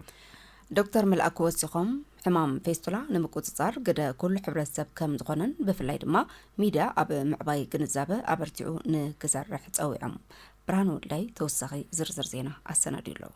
ዶክተር መልኣኩ ወሲኾም ሕማም ፌስቱላ ንምቁፅፃር ግደ ኩሉ ሕብረተሰብ ከም ዝኾነን ብፍላይ ድማ ሚድያ ኣብ ምዕባይ ግንዛበ ኣበርቲዑ ንክሰርሕ ፀዊዖም። ብርሃን ወልዳይ ተወሳኺ ዝርዝር ዜና ኣሰናዲዩ ኣሎ።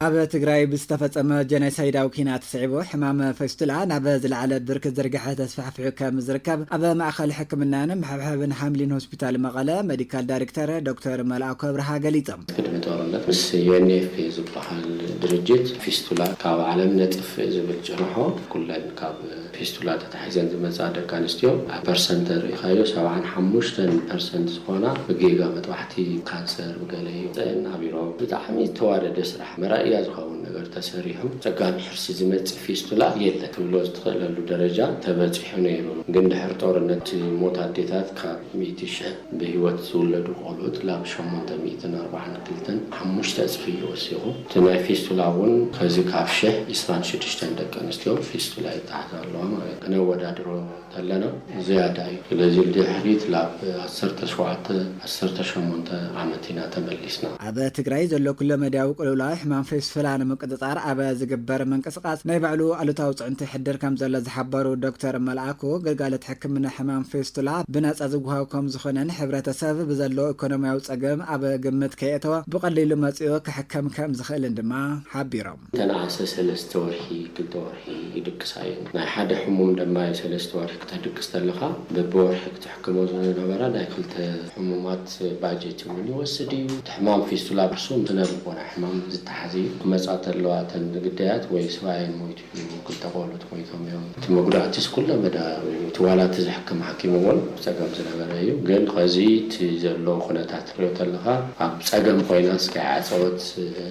ኣብ ትግራይ ብዝተፈጸመ ጀኖሳይዳዊ ኲናት ስዒቡ ሕማም ፌስቱላ ናብ ዝለዓለ ብርኪ ዝርግሐ ተስፋሕፊሑ ከም ዝርከብ ኣብ ማእኸል ሕክምናን ምሕብሓብን ሃምሊን ሆስፒታል መቐለ መዲካል ዳሪክተር ዶክተር መልኣኩ ኣብርሃ ገሊፆም። ቅድሚ ጦርነት ምስ ዩኤንኤፍፒ ዝበሃል ድርጅት ፊስቱላ ካብ ዓለም ነጥፍእ ዝብል ጭርሖ ኩለን ካብ ፊስቱላ ተታሒዘን ዝመፃ ደቂ ኣንስትዮ ኣብ ፐርሰንት ተሪኢኻዮ ሰብዓን ሓሙሽተን ፐርሰንት ዝኾና ብጌጋ መጥባሕቲ ካንሰር ብገለ ይውፀእን ኣብ ኢሮብ ብጣዕሚ ዝተዋደደ ስራሕ መራእያ ዝኸውን ነገር ተሰሪሑ ፀጋም ሕርሲ ዝመፅእ ፊስቱላ የለን ትብሎ ዝትኽእለሉ ደረጃ ተበፂሑ ነይሩ ግን ድሕሪ ጦርነት እቲ ሞት ኣዴታት ካብ ሚእቲ ሽሕ ብህይወት ዝውለዱ ቆልኡት ላብ ሸሞንተ ሚእትን ኣርባዓን ክልተን ሓሙሽተ እፅፊ እዩ ወሲኹ። እቲ ናይ ፊስቱላ እውን ከዚ ካብ ሽሕ ዕስራን ሽዱሽተን ደቂ ኣንስትዮ ፊስቱላ ይተሓዛ ኣለዋ ማለት ክነወዳድሮ እንተለና ዝያዳ እዩ። ስለዚ ድሕሪት ላብ ዓሰርተ ሸውዓተ ዓሰርተ ሸሞንተ ዓመት ኢና ተመሊስና። ኣብ ትግራይ ዘሎ ኩለመዳያዊ ቅልውላው ሕማም ፊስቱላ ንምቅፅፃር ኣብ ዝግበር ምንቅስቃስ ናይ ባዕሉ ኣሉታዊ ፅዕንቶ ይሕድር ከምዘሎ ዝሓበሩ ዶክተር መልኣኩ ግልጋሎት ሕክምና ሕማም ፊስቱላ ብናፃ ዝወሃብ ከምዝኾነን ሕብረተሰብ ብዘለዎ ኢኮኖሚያዊ ፀገም ኣብ ግምት ከየእተወ ብቀሊሉ መፂኡ ክሕከምከም ዝኽእልን ድማ ሓቢሮም። ተነኣሰ ሰለስተ ወርሒ ክልተ ወርሒ ይድቅሳ እየን። ናይ ሓደ ሕሙም ደማዩ ሰለስተ ወርሒ ክተድቅስ ተለኻ በብወርሒ ክትሕክሞ ዝነበራ ናይ ክልተ ሕሙማት ባጀት እውን ይወስድ እዩ። እቲ ሕማም ፊስቱላ ብርሱን ስነ ልቦና ሕማም ዝተሓዘ እዩ። ክመፃ ተለዋ እተን ግዳያት ወይ ስባኤን ሞይቱ ክልተ ቆልዑት ሞይቶም እዮም። እቲ መጉዳእቲስ ኩለ መዳያዊ እዩ። እቲ ዋላ እቲ ዘሕክም ሓኪም እውን ብፀገም ዝነበረ እዩ። ግን ኸዚ እቲ ዘሎ ኩነታት ትሪኦ ተለኻ ኣብ ፀገም ኮይናስ ከይዓፀወት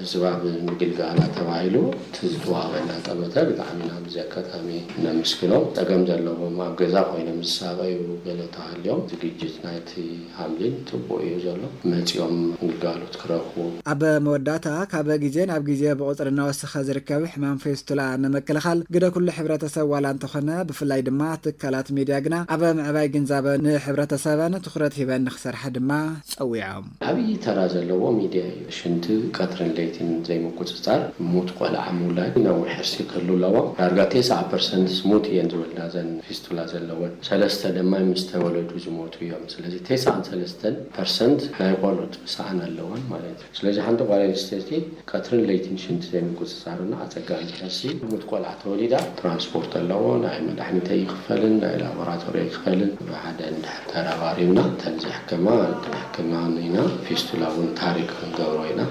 ህዝባ ብምግልጋላ ተባሂሉ እቲ ዝተዋሃበና ጠመተ ብጣዕሚ ኢና በዚ ኣጋጣሚ ነመስግኖ። ፀገም ዘለዎም ኣብ ገዛ ኮይኖም ዝሳቐዩ ገለ ተሃልዮም ዝግጅት ናይቲ ሃምሊን ጽቡቅ እዩ ዘሎ መጺኦም ግልጋሎት ክረኽቡ። ኣብ መወዳእታ፣ ካብ ግዜ ናብ ግዜ ብቑጽሪ እናወሰኸ ዝርከብ ሕማም ፌስቱላ ንምክልኻል፣ ግደ ኩሉ ሕብረተሰብ ዋላ እንተኾነ፣ ብፍላይ ድማ ትካላት ሚድያ ግና ኣብ ምዕባይ ግንዛበ ንሕብረተሰበን ትኹረት ሂበን ንኽሰርሓ ድማ ጸዊዖም። ዓብዪ ተራ ዘለዎ ሚድያ እዩ። ሽንቲ ቀትርን ለይትን ዘይምቁጽጻር፣ ሙት ቆልዓ ምውላድ፣ ነዊሕ ሕርሲ ክህሉ ኣለዎ። ዳርጋ ቴስዓ ፐርሰንት ሙት እየን ዝወልዳ እዘን ፊስቱላ ዘለወን። ሰለስተ ደማ ምስ ተወለዱ ዝሞቱ። እዮም ስለዚ ቴስዓን ሰለስተን ፐርሰንት ናይ ቆልዑት ሰኣን ኣለወን ማለት እዩ ስለዚ ሓንቲ ጓል ኣንስተይቲ ቀትርን ለይትን ሽንቲ ዘይምቁፅፃርና ኣፀጋሚ ትሕሲ ሙት ቆልዓ ተወሊዳ ትራንስፖርት ኣለዎ ናይ መዳሕኒት ኣይክፈልን ናይ ላቦራቶሪ ኣይክፈልን ብሓደ እንድሕር ተረባሪብና እተን ዝሕከማ ክንሕክመን ኢና ፊስቱላ እውን ታሪክ ክንገብሮ ኢና።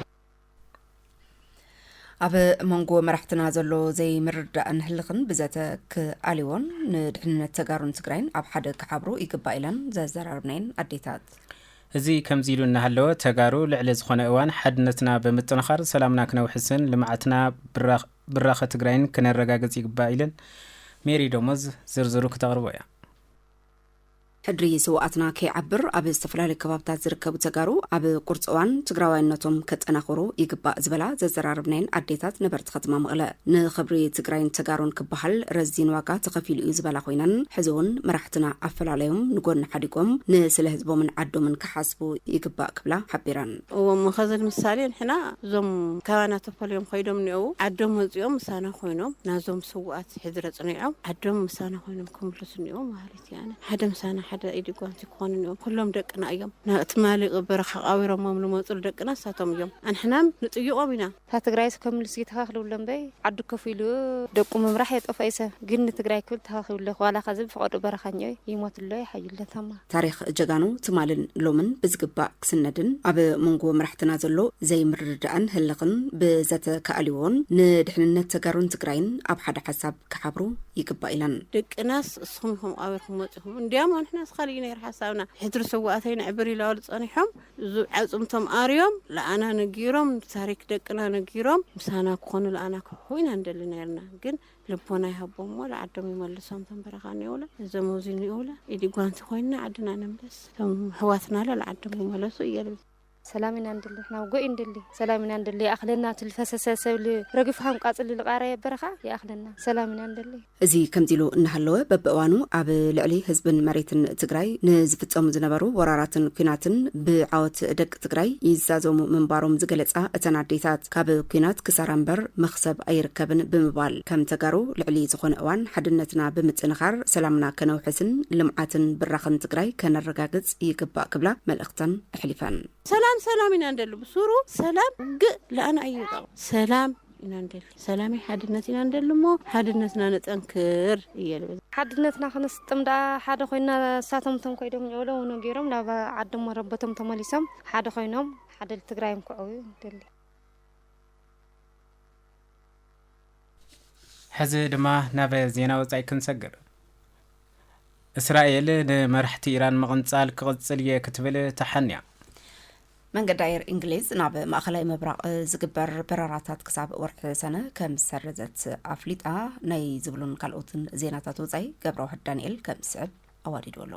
ኣብ መንጎ መራሕትና ዘሎ ዘይምርዳእን ህልኽን ብዘተ ክኣልዎን ንድሕንነት ተጋሩን ትግራይን ኣብ ሓደ ክሓብሩ ይግባእ ኢለን ዘዘራርብናየን ኣዴታት እዚ ከምዚ ኢሉ እናሃለወ ተጋሩ ልዕሊ ዝኾነ እዋን ሓድነትና ብምጥንኻር ሰላምና ክነውሕስን ልምዓትና ብራኸ ትግራይን ክነረጋግፅ ይግባእ ኢለን ሜሪ ደሞዝ ዝርዝሩ ክተቕርቦ እያ ሕድሪ ስውኣትና ከይዓብር ኣብ ዝተፈላለዩ ከባብታት ዝርከቡ ተጋሩ ኣብ ቁርፂ እዋን ትግራዋይነቶም ከጠናኽሩ ይግባእ ዝበላ ዘዘራረብናየን ኣዴታት ነበርቲ ከተማ መቐለ ንኽብሪ ትግራይን ተጋሩን ክበሃል ረዚን ዋጋ ተኸፊሉ እዩ ዝበላ ኮይነን ሕዚ እውን መራሕትና ኣፈላለዮም ንጎኒ ሓዲጎም ንስለ ህዝቦምን ዓዶምን ክሓስቡ ይግባእ ክብላ ሓቢረን። እዎ እሞ ከዚ ንምሳሌ ንሕና እዞም ካባና ተፈልዮም ከይዶም እኒኦው ዓዶም መፂኦም ምሳና ኮይኖም ናዞም ስውኣት ሕድሪ ኣፅኒዖም ዓዶም ምሳና ኮይኖም ክምልሱ እኒኦ ማህሪት ያነ ሓደ ምሳና ሓደ ኢዲ ጓንቲ ክኾኑ እኒኦም ኩሎም ደቅና እዮም ናብ ትማሊ በረኻ ቃቢሮሞም ልመፁሉ ደቅና ንሳቶም እዮም ኣንሕናም ንጥይቖም ኢና። እታ ትግራይስ ከም ሉሲ ተኻኽልብሎ እምበይ ዓዱ ከፍ ኢሉ ደቁ ምምራሕ የጠፎኢ ሰብ ግን ንትግራይ ክብል ተኻኺብሎ ዋላ ኸዚ ብፍቐድኡ በረኻኞ ይሞትሎ ይሓይሎ ታማ። ታሪኽ ጀጋኑ ትማልን ሎምን ብዝግባእ ክስነድን ኣብ ሞንጎ መራሕትና ዘሎ ዘይምርድዳእን ህልኽን ብዘተካእልዎን ንድሕንነት ተጋሩን ትግራይን ኣብ ሓደ ሓሳብ ክሓብሩ ይግባእ ኢለን። ደቅናስ እስኹም ኢኹም ቐቢርኩም መፂኹም እንድያም ኣንሕናስ ኻሊእ እዩ ነይሩ ሓሳብና ሕድሪ ስውኣተይ ነዕብር ኢላበሉ ፀኒሖም እዙ ኣፅምቶም ኣርዮም ልኣና ነጊሮም ታሪክ ደቅና ነጊሮም ምሳና ክኾኑ ልኣና ክሕሑ ኢና ንደሊ ነይርና ግን ልቦና ይሃቦም እሞ ልዓዶም ይመልሶም ቶም በረኻ እኒኦውለ እዞም ኣውዙይ እኒኦውለ ኢዲ ጓንቲ ኮይንና ዓድና ንምለስ ቶም ኣሕዋትና ለ ልዓዶም ይመለሱ እየ ልብል። ሰላም ኢና ንደሊ ንሕና ውግእ እይንደሊ ሰላም ኢና ንደሊ ይኣኽለና እቲ ልፈሰሰ ሰብ ልረግፍ ሃም ቃፅሊ ልቓረየ በረኻ ይኣኽለና ሰላም ኢና ንደሊ። እዚ ከምዚ ኢሉ እናሃለወ በብእዋኑ ኣብ ልዕሊ ህዝብን መሬትን ትግራይ ንዝፍፀሙ ዝነበሩ ወራራትን ኲናትን ብዓወት ደቂ ትግራይ ይዛዘሙ ምንባሮም ዝገለፃ እተን ኣዴታት ካብ ኲናት ክሳራ እምበር መኽሰብ ኣይርከብን ብምባል ከም ተጋሩ ልዕሊ ዝኾነ እዋን ሓድነትና ብምጥንኻር ሰላምና ከነውሕስን ልምዓትን ብራኸን ትግራይ ከነረጋግፅ ይግባእ ክብላ መልእኽተን ኣሕሊፈን። ሰላም ሰላም ኢና ንደሊ ብሱሩ ሰላም ውግእ ለኣና እዩ ጠቕ ሰላም ኢና ንደሊ ሰላመይ ሓድነት ኢና ንደሊ እሞ ሓድነትና ነጠንክር እየ ልብል ሓድነትና ክንስጥም ደኣ ሓደ ኮይና እሳቶም እቶም ኮይዶም ኘውሎ ውኖ ገይሮም ናብ ዓዶም መረበቶም ተመሊሶም ሓደ ኮይኖም ሓደ ትግራይ እንክዕው ደሊ ሕዚ ድማ ናብ ዜና ወፃኢ ክንሰግር። እስራኤል ንመራሕቲ ኢራን ምቕንጻል ክቕጽል እየ ክትብል ተሓንያ። መንገዲ ኣየር እንግሊዝ ናብ ማእኸላይ ምብራቕ ዝግበር በረራታት ክሳብ ወርሒ ሰነ ከም ዝሰረዘት ኣፍሊጣ። ናይ ዝብሉን ካልኦትን ዜናታት ወፃኢ ገብረዋህድ ዳንኤል ከም ዝስዕብ ኣዋዲዱ ኣሎ።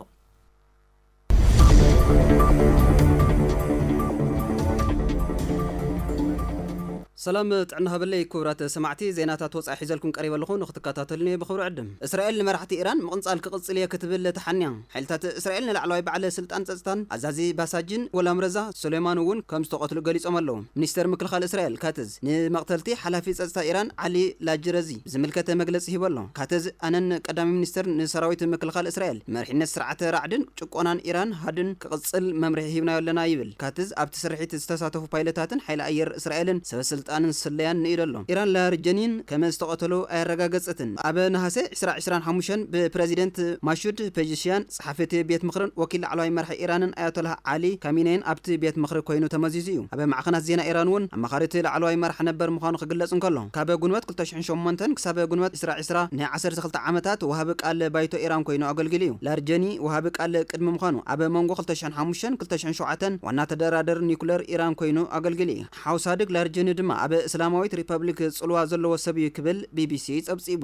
ሰላም ጥዕና ሃበለይ ኩቡራት ሰማዕቲ ዜናታት ወጻኢ ሒዘልኩም ቀሪበ ኣለኹ ንክትከታተሉኒ ብኽብሪ ዕድም። እስራኤል ንመራሕቲ ኢራን ምቕንጻል ክቕጽል እየ ክትብል ተሓንያ። ሓይልታት እስራኤል ንላዕለዋይ በዓል ስልጣን ጸጽታን ኣዛዚ ባሳጂን ጎላምረዛ ሱሌማን እውን ከም ዝተቐትሉ ገሊጾም ኣለዉ። ሚኒስተር ምክልኻል እስራኤል ካትዝ ንመቕተልቲ ሓላፊ ጸጽታ ኢራን ዓሊ ላጅረዚ፣ ዝምልከት መግለጺ ሂቡ ኣሎ። ካተዝ ኣነን ቀዳማይ ሚኒስተርን ንሰራዊት ምክልኻል እስራኤል፣ መሪሕነት ስርዓተ ራዕድን ጭቆናን ኢራን ሃድን ክቕጽል መምርሒ ሂብናዮ ኣለና ይብል። ካትዝ ኣብቲ ስርሒት ዝተሳተፉ ፓይለታትን ሓይሊ ኣየር እስራኤልን ሰበስልጣንን ስለያን ንኢዱ ኣሎ። ኢራን ላርጀኒን ከመ ዝተቐተሉ ኣየረጋገጸትን። ኣብ ነሃሰ ዕስራ ዕስራን ሓሙሽተን ብፕረዚደንት ማሹድ ፔጀሽያን፣ ጸሓፊ እቲ ቤት ምኽርን ወኪል ላዕለዋይ መራሒ ኢራንን ኣያቶላህ ዓሊ ካሚነይን ኣብቲ ቤት ምኽሪ ኰይኑ ተመዚዙ እዩ። ኣብ ማዕኸናት ዜና ኢራን'ውን ኣማኻሪ እቲ ላዕለዋይ መራሕ ነበር ምዃኑ ክግለጽ እንከሎ፣ ካብ ግንቦት ክልተ ሽሕን ሸሞንተን ክሳብ ግንቦት ዕስራ ዕስራ ን ዓሰርተ ክልተ ዓመታት ወሃቢ ቃል ባይቶ ኢራን ኰይኑ ኣገልጊሉ እዩ። ላርጀኒ ወሃቢ ቃል ቅድሚ ምዃኑ፣ ኣብ መንጎ ክልተ ሽሕን ሓሙሽተን ክልተ ሽሕን ሸውዓተን ዋና ተደራደሪ ኒዩክለር ኢራን ኰይኑ ኣገልጊሉ እዩ። ሓው ሳድግ ላርጀኒ ድማ ኣብ እስላማዊት ሪፐብሊክ ጽልዋ ዘለዎ ሰብ እዩ ክብል ቢቢሲ ጸብጺቡ።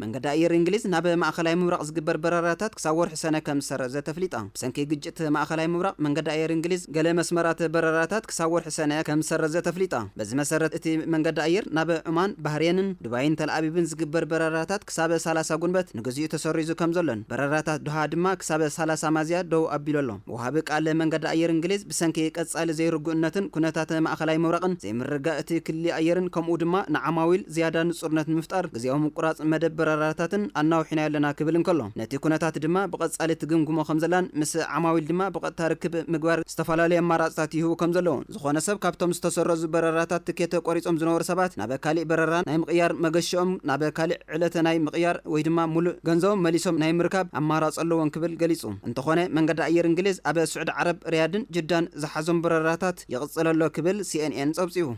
መንገዲ ኣየር እንግሊዝ ናብ ማእኸላይ ምብራቕ ዝግበር በረራታት ክሳብ ወርሒ ሰነ ከም ዝሰረዘ ተፍሊጣ። ብሰንኪ ግጭት ማእኸላይ ምብራቕ መንገዲ ኣየር እንግሊዝ ገለ መስመራት በረራታት ክሳብ ወርሒ ሰነ ከም ዝሰረዘ ተፍሊጣ። በዚ መሰረት እቲ መንገዲ ኣየር ናብ ዑማን፣ ባህሬንን፣ ዱባይን ተልኣቪቭን ዝግበር በረራታት ክሳብ ሰላሳ ጉንበት ንግዚኡ ተሰሪዙ ከም ዘሎን በረራታት ዶሃ ድማ ክሳብ ሰላሳ ማዝያ ደው ኣቢሉ ኣሎ። ወሃቢ ቃል መንገዲ ኣየር እንግሊዝ፣ ብሰንኪ ቀጻሊ ዘይርጉእነትን ኩነታት ማእከላይ ምብራቕን፣ ዘይምርግጋእ እቲ ክሊ ኣየርን፣ ከምኡ ድማ ንዓማዊል ዝያዳ ንጹርነት ንምፍጣር ግዝያዊ ምቁራጽ መደብ በረራታትን ኣናዊሕናዮ ኣለና ክብል እንከሎ፣ ነቲ ኩነታት ድማ ብቐጻሊ ትግምግሞ ከምዘላን ምስ ዓማዊል ድማ ብቐጥታ ርክብ ምግባር ዝተፈላለዩ ኣማራጽታት ይህቡ ከምዘለዉ ዝኾነ ሰብ ካብቶም ዝተሰረዙ በረራታት ትኬተ ቆሪጾም ዝነበሩ ሰባት ናብ ካሊእ በረራ ናይ ምቕያር መገሽኦም ናብ ካሊእ ዕለተ ናይ ምቕያር ወይ ድማ ሙሉእ ገንዘቦም መሊሶም ናይ ምርካብ ኣማራጺ ኣለዎም ክብል ገሊጹ። እንተኾነ መንገዲ ኣየር እንግሊዝ ኣብ ስዑዲ ዓረብ ሪያድን ጅዳን ዝሓዞም በረራታት ይቕጽል ኣሎ ክብል ሲኤንኤን ጸብጺቡ።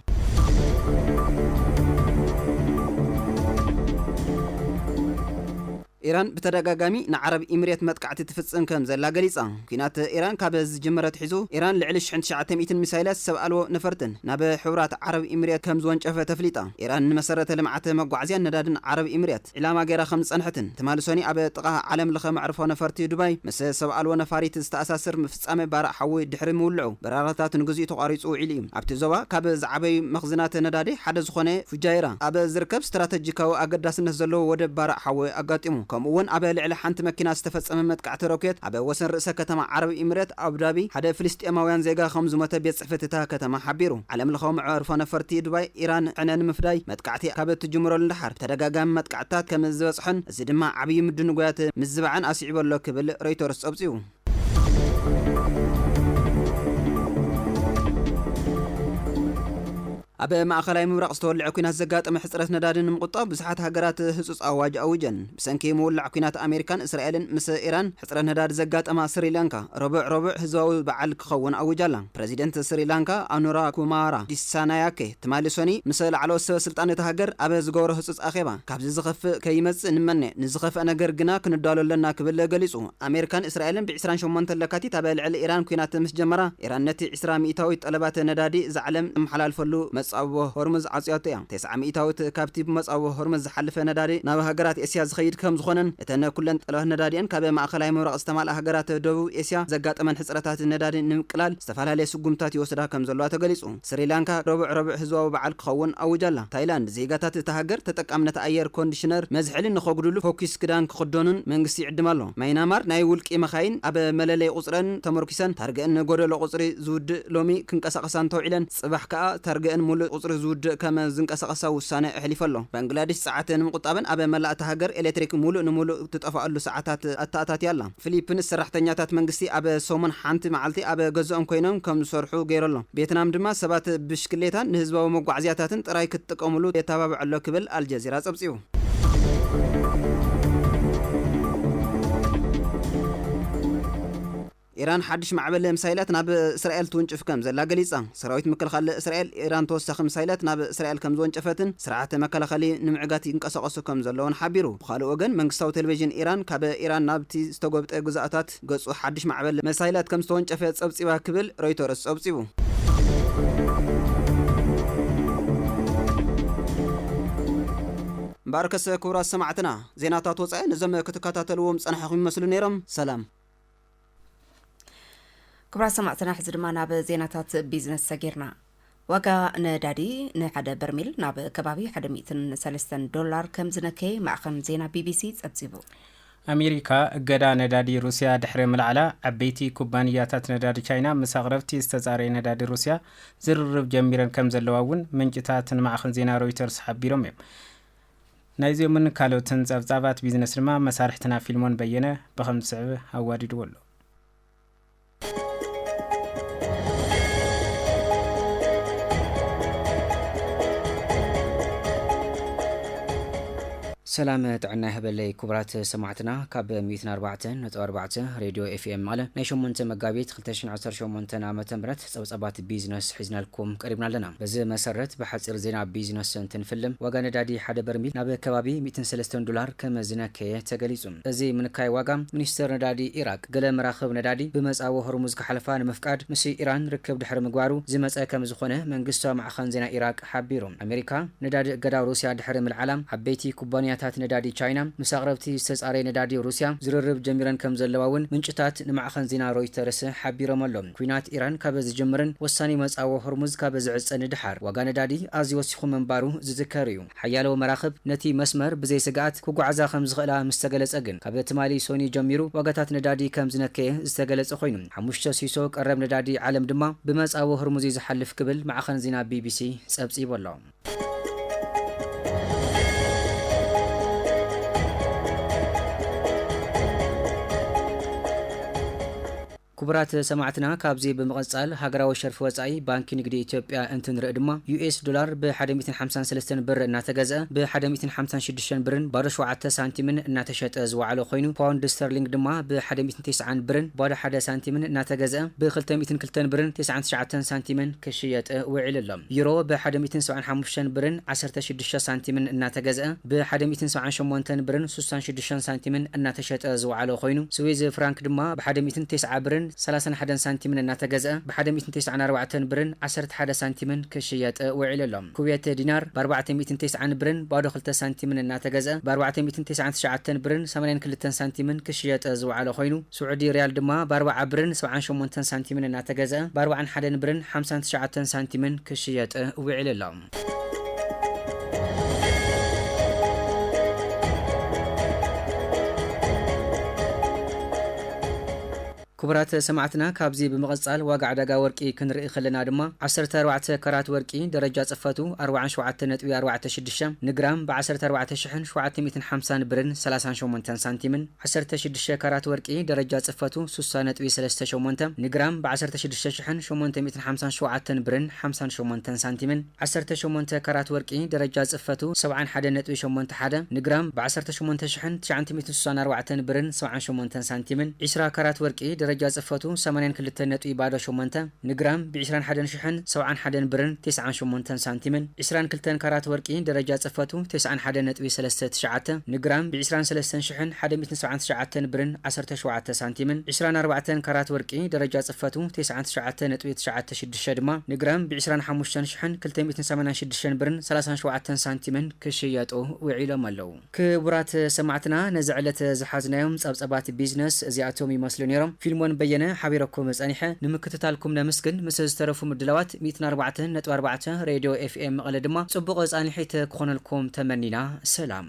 ኢራን ብተደጋጋሚ ንዓረብ ኢምሬት መጥቃዕቲ ትፍጽም ከም ዘላ ገሊጻ። ኲናት ኢራን ካብ ዝጅምር ኣትሒዙ፣ ኢራን ልዕሊ ሽሕን ትሽዓተ ሚእትን ሚሳይላት ሰብ ኣልቦ ነፈርትን ናብ ሕቡራት ዓረብ ኢምሬት ከም ዝወንጨፈት ኣፍሊጣ። ኢራን ንመሰረተ ልምዓት መጓዓዝያን ነዳድን ዓረብ ኢምሬት ዒላማ ገይራ ከም ዝጸንሐትን ትማሊ ሰኑይ ኣብ ጥቓ ዓለምለኸ መዕርፎ ነፈርቲ ዱባይ ምስ ሰብ ኣልቦ ነፋሪት ዝተኣሳስር ፍጻመ ባርዕ ሓዊ ድሕሪ ምውልዑ፣ በረራታት ንግዚኡ ተቋሪጹ ውዒሉ እዩ። ኣብቲ ዞባ ካብ ዝዓበዩ መኽዝናት ነዳዲ ሓደ ዝኾነ ፉጃይራ ኣብ ዝርከብ ስትራተጂካዊ ኣገዳስነት ዘለዎ ወደብ ባርዕ ሓዊ ኣጋጢሙ፣ ከምኡ'ውን ኣብ ልዕሊ ሓንቲ መኪና ዝተፈጸመ መጥቃዕቲ ሮኬት ኣብ ወሰን ርእሰ ከተማ ዓረብ ኢሚሬት ኣቡዳቢ ሓደ ፍልስጤማውያን ዜጋ ከምዝሞተ ቤት ጽሕፈት እታ ከተማ ሓቢሩ። ዓለምለኻዊ መዕርፎ ነፈርቲ ዱባይ ኢራን ዕነ ንምፍዳይ መጥቃዕቲ ካብ እትጅምረሉ ንደሓር ተደጋጋሚ መጥቃዕትታት ከምዝበጽሖን እዚ ድማ ዓብዪ ምድንጓያት ምዝባዕን ኣስዒቡ'ሎ ክብል ሮይተርስ ጸብጺቡ። ኣብ ማእኸላይ ምብራቕ ዝተወልዐ ኩናት ዘጋጠመ ሕፅረት ነዳዲ ንምቁጣብ ብዙሓት ሃገራት ህፁፅ ኣዋጅ ኣዊጀን። ብሰንኪ ምውላዕ ኩናት ኣሜሪካን እስራኤልን ምስ ኢራን ሕፅረት ነዳዲ ዘጋጠማ ስሪላንካ ረቡዕ ረቡዕ ህዝባዊ በዓል ክኸውን ኣዊጃ ኣላ። ፕረዚደንት ስሪላንካ ኣኑራ ኩማራ ዲሳናያኬ ትማሊ ሰኑይ ምስ ላዕለዎት ሰበ ስልጣን እታ ሃገር ኣብ ዝገበሮ ህጹጽ ኣኼባ ካብዚ ዝኸፍእ ከይመጽእ ንምነ፣ ንዝኸፍኣ ነገር ግና ክንዳሎ ኣለና ክብል ገሊጹ። ኣሜሪካን እስራኤልን ብ ዕስራን ሸሞንተን ለካቲት ኣብ ልዕሊ ኢራን ኲናት ምስ ጀመራ፣ ኢራን ነቲ ዕስራ ሚእታዊት ጠለባት ነዳዲ እዛ ዓለም እትመሓላልፈሉ መጻብቦ ሆርሙዝ ዓጽያቶ እያ። ተስዓ ሚኢታዊት ካብቲ ብመጻብቦ ሆርሙዝ ዝሓልፈ ነዳዲ ናብ ሃገራት ኤስያ ዝኸይድ ከምዝኾነን እተን ኩለን ጠለባት ነዳዲኤን ካብ ማእኸላይ ምብራቕ ዝተማልኣ ሃገራት ደቡብ ኤስያ ዘጋጠመን ሕፅረታት ነዳዲ ንምቅላል ዝተፈላለየ ስጉምትታት ይወስዳ ከምዘለዋ ተገሊፁ። ስሪላንካ ረቡዕ ረቡዕ ህዝባዊ በዓል ክኸውን ኣዊጃ ኣላ። ታይላንድ ዜጋታት እታ ሃገር ተጠቃምነት ኣየር ኮንዲሽነር መዝሐሊ ንኸጉድሉ ፎኪስ ክዳን ክኽደኑን መንግስቲ ይዕድም ኣሎ። ማይናማር ናይ ውልቂ መኻይን ኣብ መለለይ ቁፅረን ተመርኲሰን ታርገእን ጎደሎ ቁፅሪ ዝውድእ ሎሚ ክንቀሳቐሳ እንተውዒለን፣ ጽባሕ ከኣ እታ ርግእን ምሉእ ቁጽሪ ዝውድእ ከም ዝንቀሳቐሳ ውሳነ ኣሕሊፉ ኣሎ። ባንግላድሽ ጸዓት ንምቑጣብን ኣብ መላእ እታ ሃገር ኤሌክትሪክ ምሉእ ንምሉእ እትጠፍኣሉ ሰዓታት ኣተኣታትያ ኣላ። ፊሊፕንስ ሰራሕተኛታት መንግስቲ ኣብ ሰሙን ሓንቲ መዓልቲ ኣብ ገዝኦም ኰይኖም ከም ዝሰርሑ ገይሩ ኣሎ። ቬትናም ድማ ሰባት ብሽክሌታን ንህዝባዊ መጓዓዝያታትን ጥራይ ክትጥቀሙሉ የተባብዕ ኣሎ ክብል ኣልጀዚራ ጸብጺቡ። ኢራን ሓድሽ ማዕበል ምሳይላት ናብ እስራኤል ትውንጭፍ ከምዘላ ገሊጻ። ሰራዊት ምክልኻል እስራኤል፣ ኢራን ተወሳኺ ምሳይላት ናብ እስራኤል ከምዝወንጨፈትን ስርዓተ መከላኸሊ ንምዕጋት ይንቀሳቐሱ ከምዘለዉን ሓቢሩ። ብኻልእ ወገን መንግስታዊ ቴሌቪዥን ኢራን ካብ ኢራን ናብቲ ዝተጎብጠ ግዝኣታት ገጹ ሓድሽ ማዕበል መሳይላት ከምዝተወንጨፈ ጸብጺባ ክብል ሮይተርስ ጸብጺቡ። እምበኣርከስ ክቡራት ሰማዕትና ዜናታት ወጻኢ ነዞም ክትከታተልዎም ዝጸናሕኹም ይመስሉ ነይሮም። ሰላም! ክብራ ሰማዕትና ሕዚ ድማ ናብ ዜናታት ቢዝነስ ሰጊርና ዋጋ ነዳዲ ንሓደ በርሚል ናብ ከባቢ 103 ዶላር ከም ዝነከየ ማዕኸን ዜና ቢቢሲ ጸብጺቡ ኣሜሪካ እገዳ ነዳዲ ሩስያ ድሕሪ ምልዓላ ዓበይቲ ኩባንያታት ነዳዲ ቻይና ምስ ኣቕረብቲ ዝተጻረየ ነዳዲ ሩስያ ዝርርብ ጀሚረን ከም ዘለዋ እውን ምንጭታት ንማዕኸን ዜና ሮይተርስ ሓቢሮም እዮም ናይዚኦምን ካልኦትን ጸብጻባት ቢዝነስ ድማ መሳርሕትና ፊልሞን በየነ ብኸም ዝስዕብ ኣዋዲድዎ ኣሎ። ሰላም ጥዕና ይሀበለይ ኩቡራት ሰማዕትና ካብ ሚእትን ኣርባዕተን ነጥቢ ኣርባዕተ ሬድዮ ኤፍኤም መቐለ ናይ ሸሞንተ መጋቢት ክልተ ሽሕን ዓሰርተ ሸሞንተን ኣመተ ምህረት ጸብጻባት ቢዝነስ ሒዝናልኩም ቀሪብና ኣለና። በዚ መሰረት ብሓጺር ዜና ቢዝነስ እንትንፍልም፣ ዋጋ ነዳዲ ሓደ በርሚል ናብ ከባቢ ሚእትን ሰለስተን ዶላር ከም ዝነከየ ተገሊጹ። እዚ ምንካይ ዋጋ፣ ሚኒስተር ነዳዲ ኢራቅ፣ ገለ መራኽብ ነዳዲ ብመጻወ ሆርሙዝ ክሓልፋ ንምፍቃድ ምስ ኢራን ርክብ ድሕሪ ምግባሩ ዝመጸ ከም ዝኾነ መንግስታዊ ማዕኸን ዜና ኢራቅ ሓቢሩ። ኣሜሪካ፣ ነዳዲ እገዳ ሩስያ ድሕሪ ምልዓላ፣ ዓበይቲ ኩባንያታት ነዳዲ ቻይና ምስ ኣቕረብቲ ዝተጻረየ ነዳዲ ሩስያ ዝርርብ ጀሚረን ከም ዘለዋ'ውን ምንጭታት ንማዕኸን ዜና ሮይተርስ ሓቢሮም'ሎ። ኲናት ኢራን ካብ ዝጅምርን ወሳኒ መጻወ ሆርሙዝ ካብ ዝዕጸ ንደሓር፣ ዋጋ ነዳዲ ኣዝዩ ወሲኹ ምንባሩ ዝዝከር እዩ። ሓያሎ መራኽብ ነቲ መስመር ብዘይ ስግኣት ክጓዓዛ ከም ዝኽእላ ምስ ተገለጸ ግን፣ ካብ ትማሊ ሶኑይ ጀሚሩ ዋጋታት ነዳዲ ከም ዝነከየ ዝተገለጸ ኮይኑ፣ ሓሙሽተ ሲሶ ቀረብ ነዳዲ ዓለም ድማ ብመጻወ ሆርሙዝ እዩ ዝሓልፍ ክብል ማዕኸን ዜና ቢቢሲ ጸብጺቡ ኣሎ። ክቡራት ሰማዕትና ካብዚ ብምቕጻል ሃገራዊ ሸርፊ ወጻኢ ባንኪ ንግዲ ኢትዮጵያ እንትንርኢ ድማ US ዶላር ብ ሓደ ሚእትን ሓምሳን ሰለስተን ብር እናተገዝኣ ብ ሓደ ሚእትን ሓምሳን ሽዱሽተን ብርን ባዶ ሸውዓተ ሳንቲምን እናተሸጠ ዝወዓለ ኮይኑ ፓውንድ ስተርሊንግ ድማ ብ ሓደ ሚእትን ተስዓን ብርን ባዶ ሓደ ሳንቲምን እናተገዝኣ ብ ክልተ ሚእትን ክልተን ብርን ተስዓን ትሽዓተን ሳንቲምን ክሽየጥ ውዒሉ ኣሎ። ዩሮ ብ ሓደ ሚእትን ሰብዓን ሓሙሽተን ብርን ዓሰርተ ሽዱሽተ ሳንቲምን እናተገዝኣ ብ ሓደ ሚእትን ሰብዓን ሸሞንተን ብርን ስሳን ሽዱሽተን ሽሕን ሳንቲምን እናተሸጠ ዝወዓለ ኮይኑ፣ ስዊዝ ፍራንክ ድማ ብሓደ ሚእትን ቴስዓ ብርን ሰላሳን ሓደን ሳንቲምን እናተገዝኣ ብሓደ ሚእትን ቴስዓን ኣርባዕተን ብርን ዓሰርተ ሓደ ሳንቲምን ክሽየጥ ውዒሉ ኣሎ። ኩዌት ዲናር ብኣርባዕተ ሚእትን ቴስዓን ብርን ባዶ ክልተ ሳንቲምን እናተገዝኣ ብኣርባዕተ ሚእትን ቴስዓን ትሽዓተን ብርን ሰማንያን ክልተን ሳንቲምን ክሽየጥ ዝወዓለ ኮይኑ፣ ስዑዲ ሪያል ድማ ብኣርባዓ ብርን ሰብዓን ሸሞንተን ሳንቲምን እናተገዝኣ ብኣርባዓን ሓደን ብርን ሓምሳን ትሽዓተን ሳንቲምን ክሽየጥ ውዒሉ ኣሎ። ክቡራት ሰማዕትና ካብዚ ብምቕጻል ዋጋ ዕዳጋ ወርቂ ክንርኢ ከለና ድማ ዓሰርተ ኣርባዕተ ካራት ወርቂ ደረጃ ጽፈቱ ኣርብዓን ሸውዓተን ነጥቢ ኣርባዕተ ሽዱሽተ ንግራም ብ ዓሰርተ ኣርባዕተ ሽሕን ሸውዓተ ሚእትን ሓምሳን ብርን ሰላሳን ሸሞንተን ሳንቲምን ዓሰርተ ሽዱሽተ ካራት ወርቂ ደረጃ ጽፈቱ ሱሳ ነጥቢ ሰለስተ ሸሞንተ ን ግራም ብ ዓሰርተ ሽዱሽተ ሽሕን ሸሞንተ ሚእትን ሓምሳን ሸውዓተን ብርን ሓምሳን ሸሞንተን ሳንቲምን ዓሰርተ ሸሞንተ ካራት ወርቂ ደረጃ ጽፈቱ ሰብዓን ሓደን ነጥቢ ሸሞንተ ሓደ ን ግራም ብ ዓሰርተ ሸሞንተ ሽሕን ትሽዓንት ሚእትን ሱሳን ኣርባዕተን ብርን ሰብዓን ሸሞንተን ሳንቲምን ዒስራ ካራት ወርቂ ደረጃ ጽፈቱ ሰማንያን ክልተን ነጥቢ ባዶ ሸሞንተ ንግራም ብዒስራን ሓደን ሽሕን ሰውዓን ሓደን ብርን ቴስዓን ሸሞንተን ሳንቲምን ዒስራን ክልተን ካራት ወርቂ ደረጃ ጽፈቱ ቴስዓን ሓደ ነጥቢ ሰለስተ ትሽዓተ ንግራም ብዒስራን ሰለስተን ሽሕን ሓደ ሚእትን ሰብዓን ትሽዓተን ብርን ዓሰርተ ሸውዓተ ሳንቲምን ዒስራን ኣርባዕተን ካራት ወርቂ ደረጃ ጽፈቱ ቴስዓን ትሽዓተ ነጥቢ ትሽዓተ ሽዱሽተ ድማ ንግራም ብዒስራን ሓሙሽተን ሽሕን ክልተ ሚእትን ሰማንያን ሽዱሽተን ብርን ሰላሳን ሸውዓተን ሳንቲምን ክሽየጡ ውዒሎም ኣለው። ክቡራት ሰማዕትና ነዚ ዕለት ዝሓዝናዮም ጸብጸባት ቢዝነስ እዚኣቶም ይመስሉ ኔሮም። ፊልሞን በየነ ሓቢረኩም ጸኒሐ። ንምክትታልኩም ነምስግን። ምስ ዝተረፉ ምድላዋት ሚእትን ኣርባዕተን ነጥቢ ኣርባዕተ ሬድዮ ኤፍኤም መቐለ ድማ ጽቡቕ ጻንሒት ክኾነልኩም ተመኒና። ሰላም።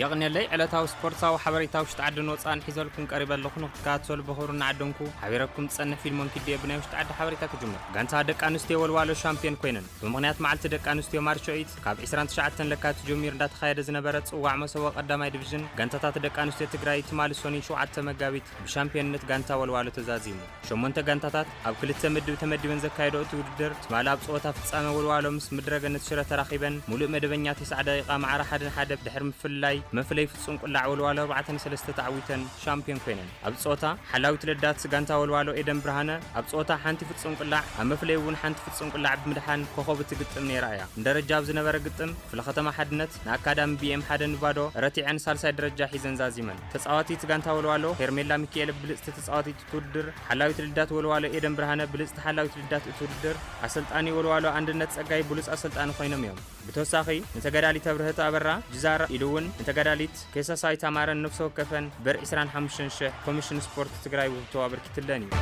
የቕኔለይ ዕለታዊ ስፖርታዊ ሓበሬታ ውሽጢ ዓድን ወፃእን ሒዘልኩም ቀሪበ ኣለኹ ንክትከታተሉ ብኽብሪ እናዓደንኩ ሓቢረኩም ዝፀንሕ ፊልሞን ኪድዮ ብናይ ውሽጢ ዓዲ ሓበሬታ ክጅምር ጋንታ ደቂ ኣንስትዮ ወልዋሎ ሻምፒዮን ኮይነን ብምኽንያት መዓልቲ ደቂ ኣንስትዮ ማርች ኦይት ካብ 29 ለካቲት ጀሚሩ እንዳተኻየደ ዝነበረ ፅዋዕ መሰቦ ቀዳማይ ዲቪዥን ጋንታታት ደቂ ኣንስትዮ ትግራይ ትማሊ ሶኒ 7 መጋቢት ብሻምፒዮንነት ጋንታ ወልዋሎ ተዛዚሙ ሸሞንተ ጋንታታት ኣብ ክልተ ምድብ ተመዲበን ዘካየደኦ እቲ ውድድር ትማሊ ኣብ ጸወታ ፍጻመ ወልዋሎ ምስ ምድረገነት ሽረ ተራኺበን ሙሉእ መደበኛ ተስዓ ደቒቓ ማዕረ ሓደ ን ሓደ ድሕሪ ምፍልላይ ብመፍለዪ ፍጹም ቁላዕ ወልዋሎ ኣርባዕተ ን ሰለስተ ተዓዊተን ሻምፕዮን ኮይነን። ኣብዚ ጸወታ ሓላዊት ረዳት ጋንታ ወልዋሎ ኤደን ብርሃነ ኣብ ጸወታ ሓንቲ ፍጹም ቁላዕ ኣብ መፍለዪ እውን ሓንቲ ፍጹም ቁላዕ ብምድሓን ኮኾብ እቲ ግጥም ነይራ እያ። ንደረጃ ኣብ ዝነበረ ግጥም ክፍለ ከተማ ሓድነት ንኣካዳሚ ቢኤም ሓደ ን ባዶ ረቲዐን ሳልሳይ ደረጃ ሒዘን ዛዚመን። ተጻዋቲት ጋንታ ወልዋሎ ሄርሜላ ሚኪኤለ ብልጽቲ ተጻዋቲት እቲ ውድድር ሓላዊት ልዳት ወልዋሎ ኤደን ብርሃነ ብልፅቲ ሓላዊት ልዳት እቲ ውድድር ኣሰልጣኒ ወልዋሎ ኣንድነት ፀጋይ ብሉፅ ኣሰልጣኒ ኮይኖም እዮም ብተወሳኺ ንተጋዳሊት ኣብርሀት ኣበራ ጅዛር ኢሉ እውን ንተጋዳሊት ከይሳሳይት ኣማረን ነብሲ ወከፈን ብር 25 ሽሕ ኮሚሽን ስፖርት ትግራይ ውህብቶ ኣበርኪትለን እዩ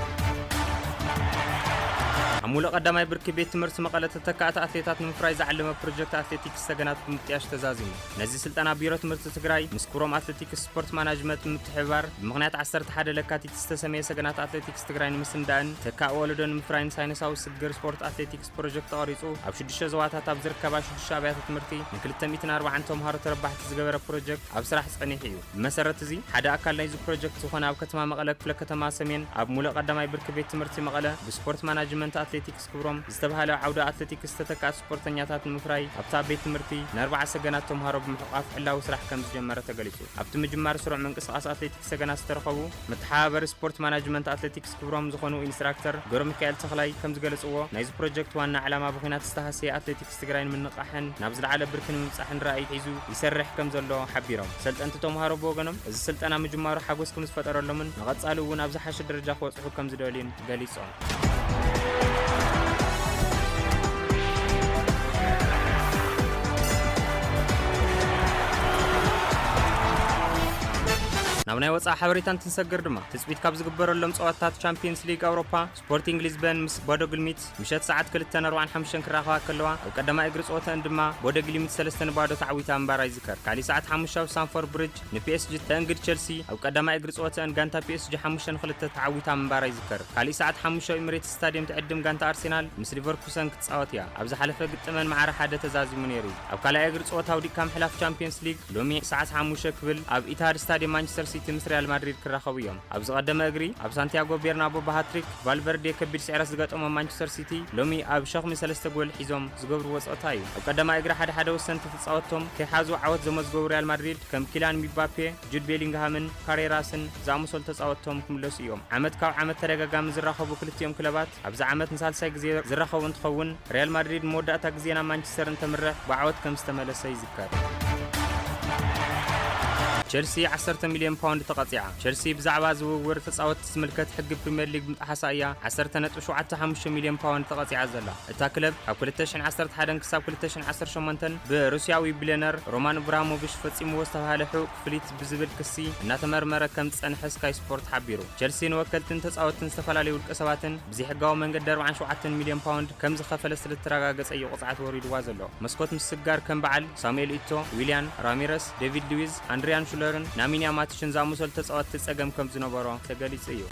ኣብ ሙሉእ ቀዳማይ ብርኪ ቤት ትምህርቲ መቐለ ተተካእቲ ኣትሌታት ንምፍራይ ዝዓለመ ፕሮጀክት ኣትሌቲክስ ሰገናት ብምጥያሽ ተዛዚሙ። ነዚ ስልጠና ቢሮ ትምህርቲ ትግራይ ምስ ኩሮም ኣትሌቲክስ ስፖርት ማናጅመት ብምትሕብባር ብምኽንያት 11 ለካቲት ዝተሰመየ ሰገናት ኣትሌቲክስ ትግራይ ንምስንዳእን ተካእ ወለዶ ንምፍራይን ሳይንሳዊ ስግግር ስፖርት ኣትሌቲክስ ፕሮጀክት ተቐሪፁ ኣብ ሽዱሽተ ዞባታት ኣብ ዝርከባ ሽዱሽተ ኣብያተ ትምህርቲ ን240 ተምሃሮ ተረባሕቲ ዝገበረ ፕሮጀክት ኣብ ስራሕ ፀኒሑ እዩ። ብመሰረት እዚ ሓደ ኣካል ናይዚ ፕሮጀክት ዝኾነ ኣብ ከተማ መቐለ ክፍለ ከተማ ሰሜን ኣብ ሙሉእ ቀዳማይ ብርኪ ቤት ትምህርቲ መቐለ ብስፖርት ማናጅመንት ኣትሌቲክስ ክብሮም ዝተብሃለ ዓውደ ኣትሌቲክስ ዝተተክኣ ስፖርተኛታት ንምፍራይ ኣብታ ቤት ትምህርቲ ንኣርብዓ ሰገናት ተምሃሮ ብምሕቋፍ ዕላዊ ስራሕ ከም ዝጀመረ ተገሊጹ። ኣብቲ ምጅማር ስሩዕ ምንቅስቓስ ኣትሌቲክስ ሰገናት ዝተረኸቡ መተሓባበሪ ስፖርት ማናጅመንት ኣትሌቲክስ ክብሮም ዝኾኑ ኢንስትራክተር ገብረሚካኤል ተኽላይ ከም ዝገለጽዎ ናይዚ ፕሮጀክት ዋና ዕላማ ብኹናት ዝተሃሰየ ኣትሌቲክስ ትግራይ ንምንቕቓሕን ናብ ዝለዓለ ብርኪ ንምብጻሕን ራእይ ሒዙ ይሰርሕ ከም ዘሎ ሓቢሮም። ሰልጠንቲ ተምሃሮ ብወገኖም እዚ ስልጠና ምጅማሩ ሓጎስ ከም ዝፈጠረሎምን ንቐጻሊ እውን ኣብ ዝሓሸ ደረጃ ክበጽሑ ከም ዝደልዩን ገሊጾም። ናብ ናይ ወፃኢ ሓበሬታ እንትንሰግር ድማ ትፅቢት ካብ ዝግበረሎም ፀዋታት ቻምፒየንስ ሊግ ኣውሮፓ ስፖርቲንግ ሊዝበን ምስ ቦዶ ግልሚት ምሸት ሰዓት 2:45 ክራኸባ ከለዋ ኣብ ቀዳማይ እግሪ ፀወተን ድማ ቦደ ግሊሚት 3 ንባዶ ተዓዊታ ምንባራ ይዝከር ካሊእ ሰዓት ሓሙሻብ ሳንፎር ብሪጅ ንፒኤስጂ እተእንግድ ቸልሲ፣ ኣብ ቀዳማይ እግሪ ጸወተኣን ጋንታ ፒኤስጂ ሓሙሽተ ን ክልተ ተዓዊታ ምንባራ ይዝከር። ካሊእ ሰዓት ሓሙሽተ ኣብ ኢሚሬትስ ስታድየም ትዕድም ጋንታ ኣርሴናል ምስ ሊቨርኩሰን ክትጻወት እያ። ኣብ ዝሓለፈ ግጥመን ማዕረ ሓደ ተዛዚሙ ነይሩ። ኣብ ካልኣይ እግሪ ጸወታ ኣውዲቕካ ምሕላፍ ቻምፕየንስ ሊግ፣ ሎሚ ሰዓት ሓሙሽተ ክብል ኣብ ኢትሃድ ስታድየም ማንቸስተር ሲቲ ምስ ሪያል ማድሪድ ክራኸቡ እዮም። ኣብ ዝቐደመ እግሪ፣ ኣብ ሳንቲያጎ ቤርናቦ ብሃትሪክ ቫልቨርዴ ከቢድ ስዕረት ዝገጠሞም ማንቸስተር ሲቲ፣ ሎሚ ኣብ ሸኽሚ ሰለስተ ጎል ሒዞም ዝገብርዎ ጸወታ እዩ። ኣብ ቀዳማይ እግሪ ሓደ ሓደ ወሰንቲ ጻወቶም ከይሓዙ ዓወት ዘመዝገቡ ሪያል ማድሪድ ከም ኪላን ሚባፔ፣ ጁድ ቤሊንግሃምን ካሬራስን ዝኣመሰሉ ተጻወትቶም ክምለሱ እዮም። ዓመት ካብ ዓመት ተደጋጋሚ ዝራኸቡ ክልቲኦም ክለባት ኣብዚ ዓመት ንሳልሳይ ግዜ ዝራኸቡ እንትኸውን፣ ሪያል ማድሪድ ንመወዳእታ ግዜ ናብ ማንቸስተር እንተምርሕ ብዓወት ከምዝተመለሰ ይዝከር። ቸልሲ ዓሰርተ ሚልዮን ፓውንድ ተቐጺዓ። ቸልሲ ብዛዕባ ዝውውር ተጻወትቲ ዝምልከት ሕጊ ፕሪምየር ሊግ ብምጥሓሳ እያ ዓሰርተ ነጥቢ ሸውዓተ ሓሙሽተ ሚልዮን ፓውንድ ተቐጺዓ ዘላ። እታ ክለብ ካብ ክልተ ሽሕን ዓሰርተ ሓደን ክሳብ ክልተ ሽሕን ዓሰርተ ሸሞንተን ብሩስያዊ ቢልዮነር ሮማን እብራሃሞቪሽ ፈጺምዎ ዝተብሃለ ሕቡእ ክፍሊት ብዝብል ክሲ እናተመርመረ ከም ዝጸንሐ ስካይ ስፖርት ሓቢሩ። ቸልሲ ንወከልትን ተጻወትትን ዝተፈላለዩ ውልቀሰባትን ብዘይሕጋዊ መንገዲ ኣርብዓን ሸውዓተን ሚልዮን ፓውንድ ከም ዝኸፈለ ስለ ዝተረጋገጸ'ዩ ቅጽዓት ወሪድዋ ዘሎ። መስኮት ምስጋር ከም በዓል ሳሙኤል ኢቶ፣ ዊልያን፣ ራሚረስ፣ ዴቪድ ሉዊዝ፣ ኣንድሪያን ሹለርን ናሚንያ ማቲሽን ዝኣመሰሉ ተጻወትቲ ጸገም ከም ዝነበሮ ተገሊጹ እዩ።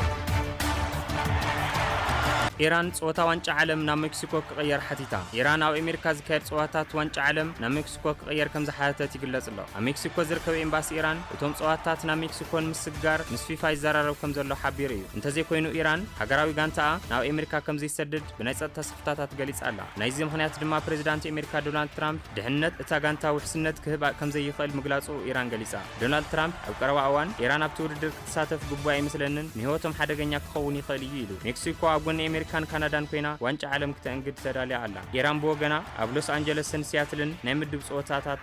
ኢራን ጸወታ ዋንጫ ዓለም ናብ ሜክሲኮ ክቕየር ሓቲታ። ኢራን ኣብ ኣሜሪካ ዝካየድ ጸወታታት ዋንጫ ዓለም ናብ ሜክሲኮ ክቕየር ከም ዝሓተተት ይግለጽ ኣሎ። ኣብ ሜክሲኮ ዝርከብ ኤምባሲ ኢራን እቶም ጸወታታት ናብ ሜክሲኮ ንምስግጋር ምስ ፊፋ ይዘራረብ ከም ዘሎ ሓቢሩ እዩ። እንተዘይኮይኑ ኢራን ሃገራዊ ጋንታኣ ናብ ኣሜሪካ ከም ዘይሰድድ ብናይ ጸጥታ ስክፍታታት ገሊጻ ኣላ። ናይዚ ምኽንያት ድማ ፕሬዚዳንት ኣሜሪካ ዶናልድ ትራምፕ ድሕንነት እታ ጋንታ ውሕስነት ክህባ ከምዘይኽእል ምግላጹ ኢራን ገሊጻ። ዶናልድ ትራምፕ ኣብ ቀረባ እዋን ኢራን ኣብቲ ውድድር ክትሳተፍ ግቡእ ኣይመስለንን፣ ንህይወቶም ሓደገኛ ክኸውን ይኽእል እዩ ኢሉ። ሜክሲኮ ኣብ ጎኒ ኣሜሪካን ካናዳን ኮይና ዋንጫ ዓለም ክተእንግድ ተዳልያ ኣላ። ኢራን ብወገና ኣብ ሎስ ኣንጀለስን ሲያትልን ናይ ምድብ ጸወታታት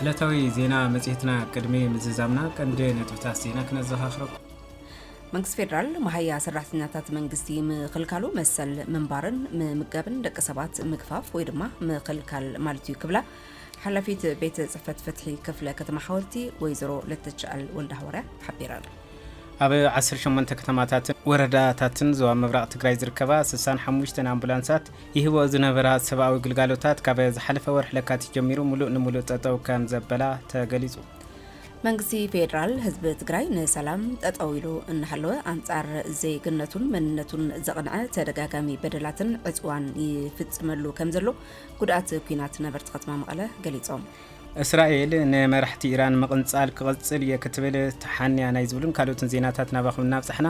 ዕለታዊ ዜና መጽሔትና ቅድሚ ምዝዛምና ቀንዲ ነጥብታት ዜና ክነዘኻኽረኩም። መንግስቲ ፌዴራል መሃያ ሰራሕተኛታት መንግስቲ ምኽልካሉ መሰል ምንባርን ምምጋብን ደቂ ሰባት ምግፋፍ ወይ ድማ ምኽልካል ማለት እዩ ክብላ ሓላፊት ቤት ፅሕፈት ፍትሒ ክፍለ ከተማ ሓወልቲ ወይዘሮ ለተችኣል ወልደ ሃዋርያ ሓቢረን ኣብ 18 ከተማታትን ወረዳታትን ዞባ ምብራቕ ትግራይ ዝርከባ 65 ኣምቡላንሳት ይህብኦ ዝነበራ ሰብኣዊ ግልጋሎታት ካብ ዝሓለፈ ወርሒ ለካቲት ጀሚሩ ሙሉእ ንሙሉእ ጠጠው ከም ዘበላ ተገሊፁ። መንግስቲ ፌዴራል ህዝቢ ትግራይ ንሰላም ጠጠው ኢሉ እናሃለወ ኣንጻር ዜግነቱን መንነቱን ዘቕንዐ ተደጋጋሚ በደላትን ዕፅዋን ይፍፅመሉ ከም ዘሎ ጉድኣት ኩናት ነበርቲ ከተማ መቐለ ገሊፆም። እስራኤል ንመራሕቲ ኢራን ምቕንጻል ክቕጽል እየ ክትብል ተሓንያ ናይ ዝብሉን ካልኦትን ዜናታት ናባኹም እናብጻሕና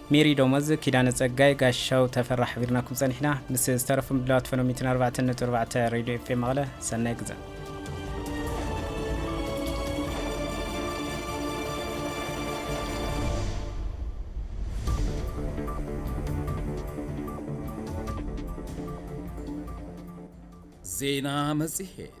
ሜሪ ደሞዝ፣ ኪዳነ ጸጋይ፣ ጋሻው ተፈራ ሓቢርናኩም ጸኒሕና። ምስ ዝተረፉ ምድላዋት ፈነው ሚእትን ኣርባዕተን ነጥቢ ኣርባዕተ ሬድዮ ኤፍኤም መቐለ ሰናይ ግዘ። ዜና መጽሔት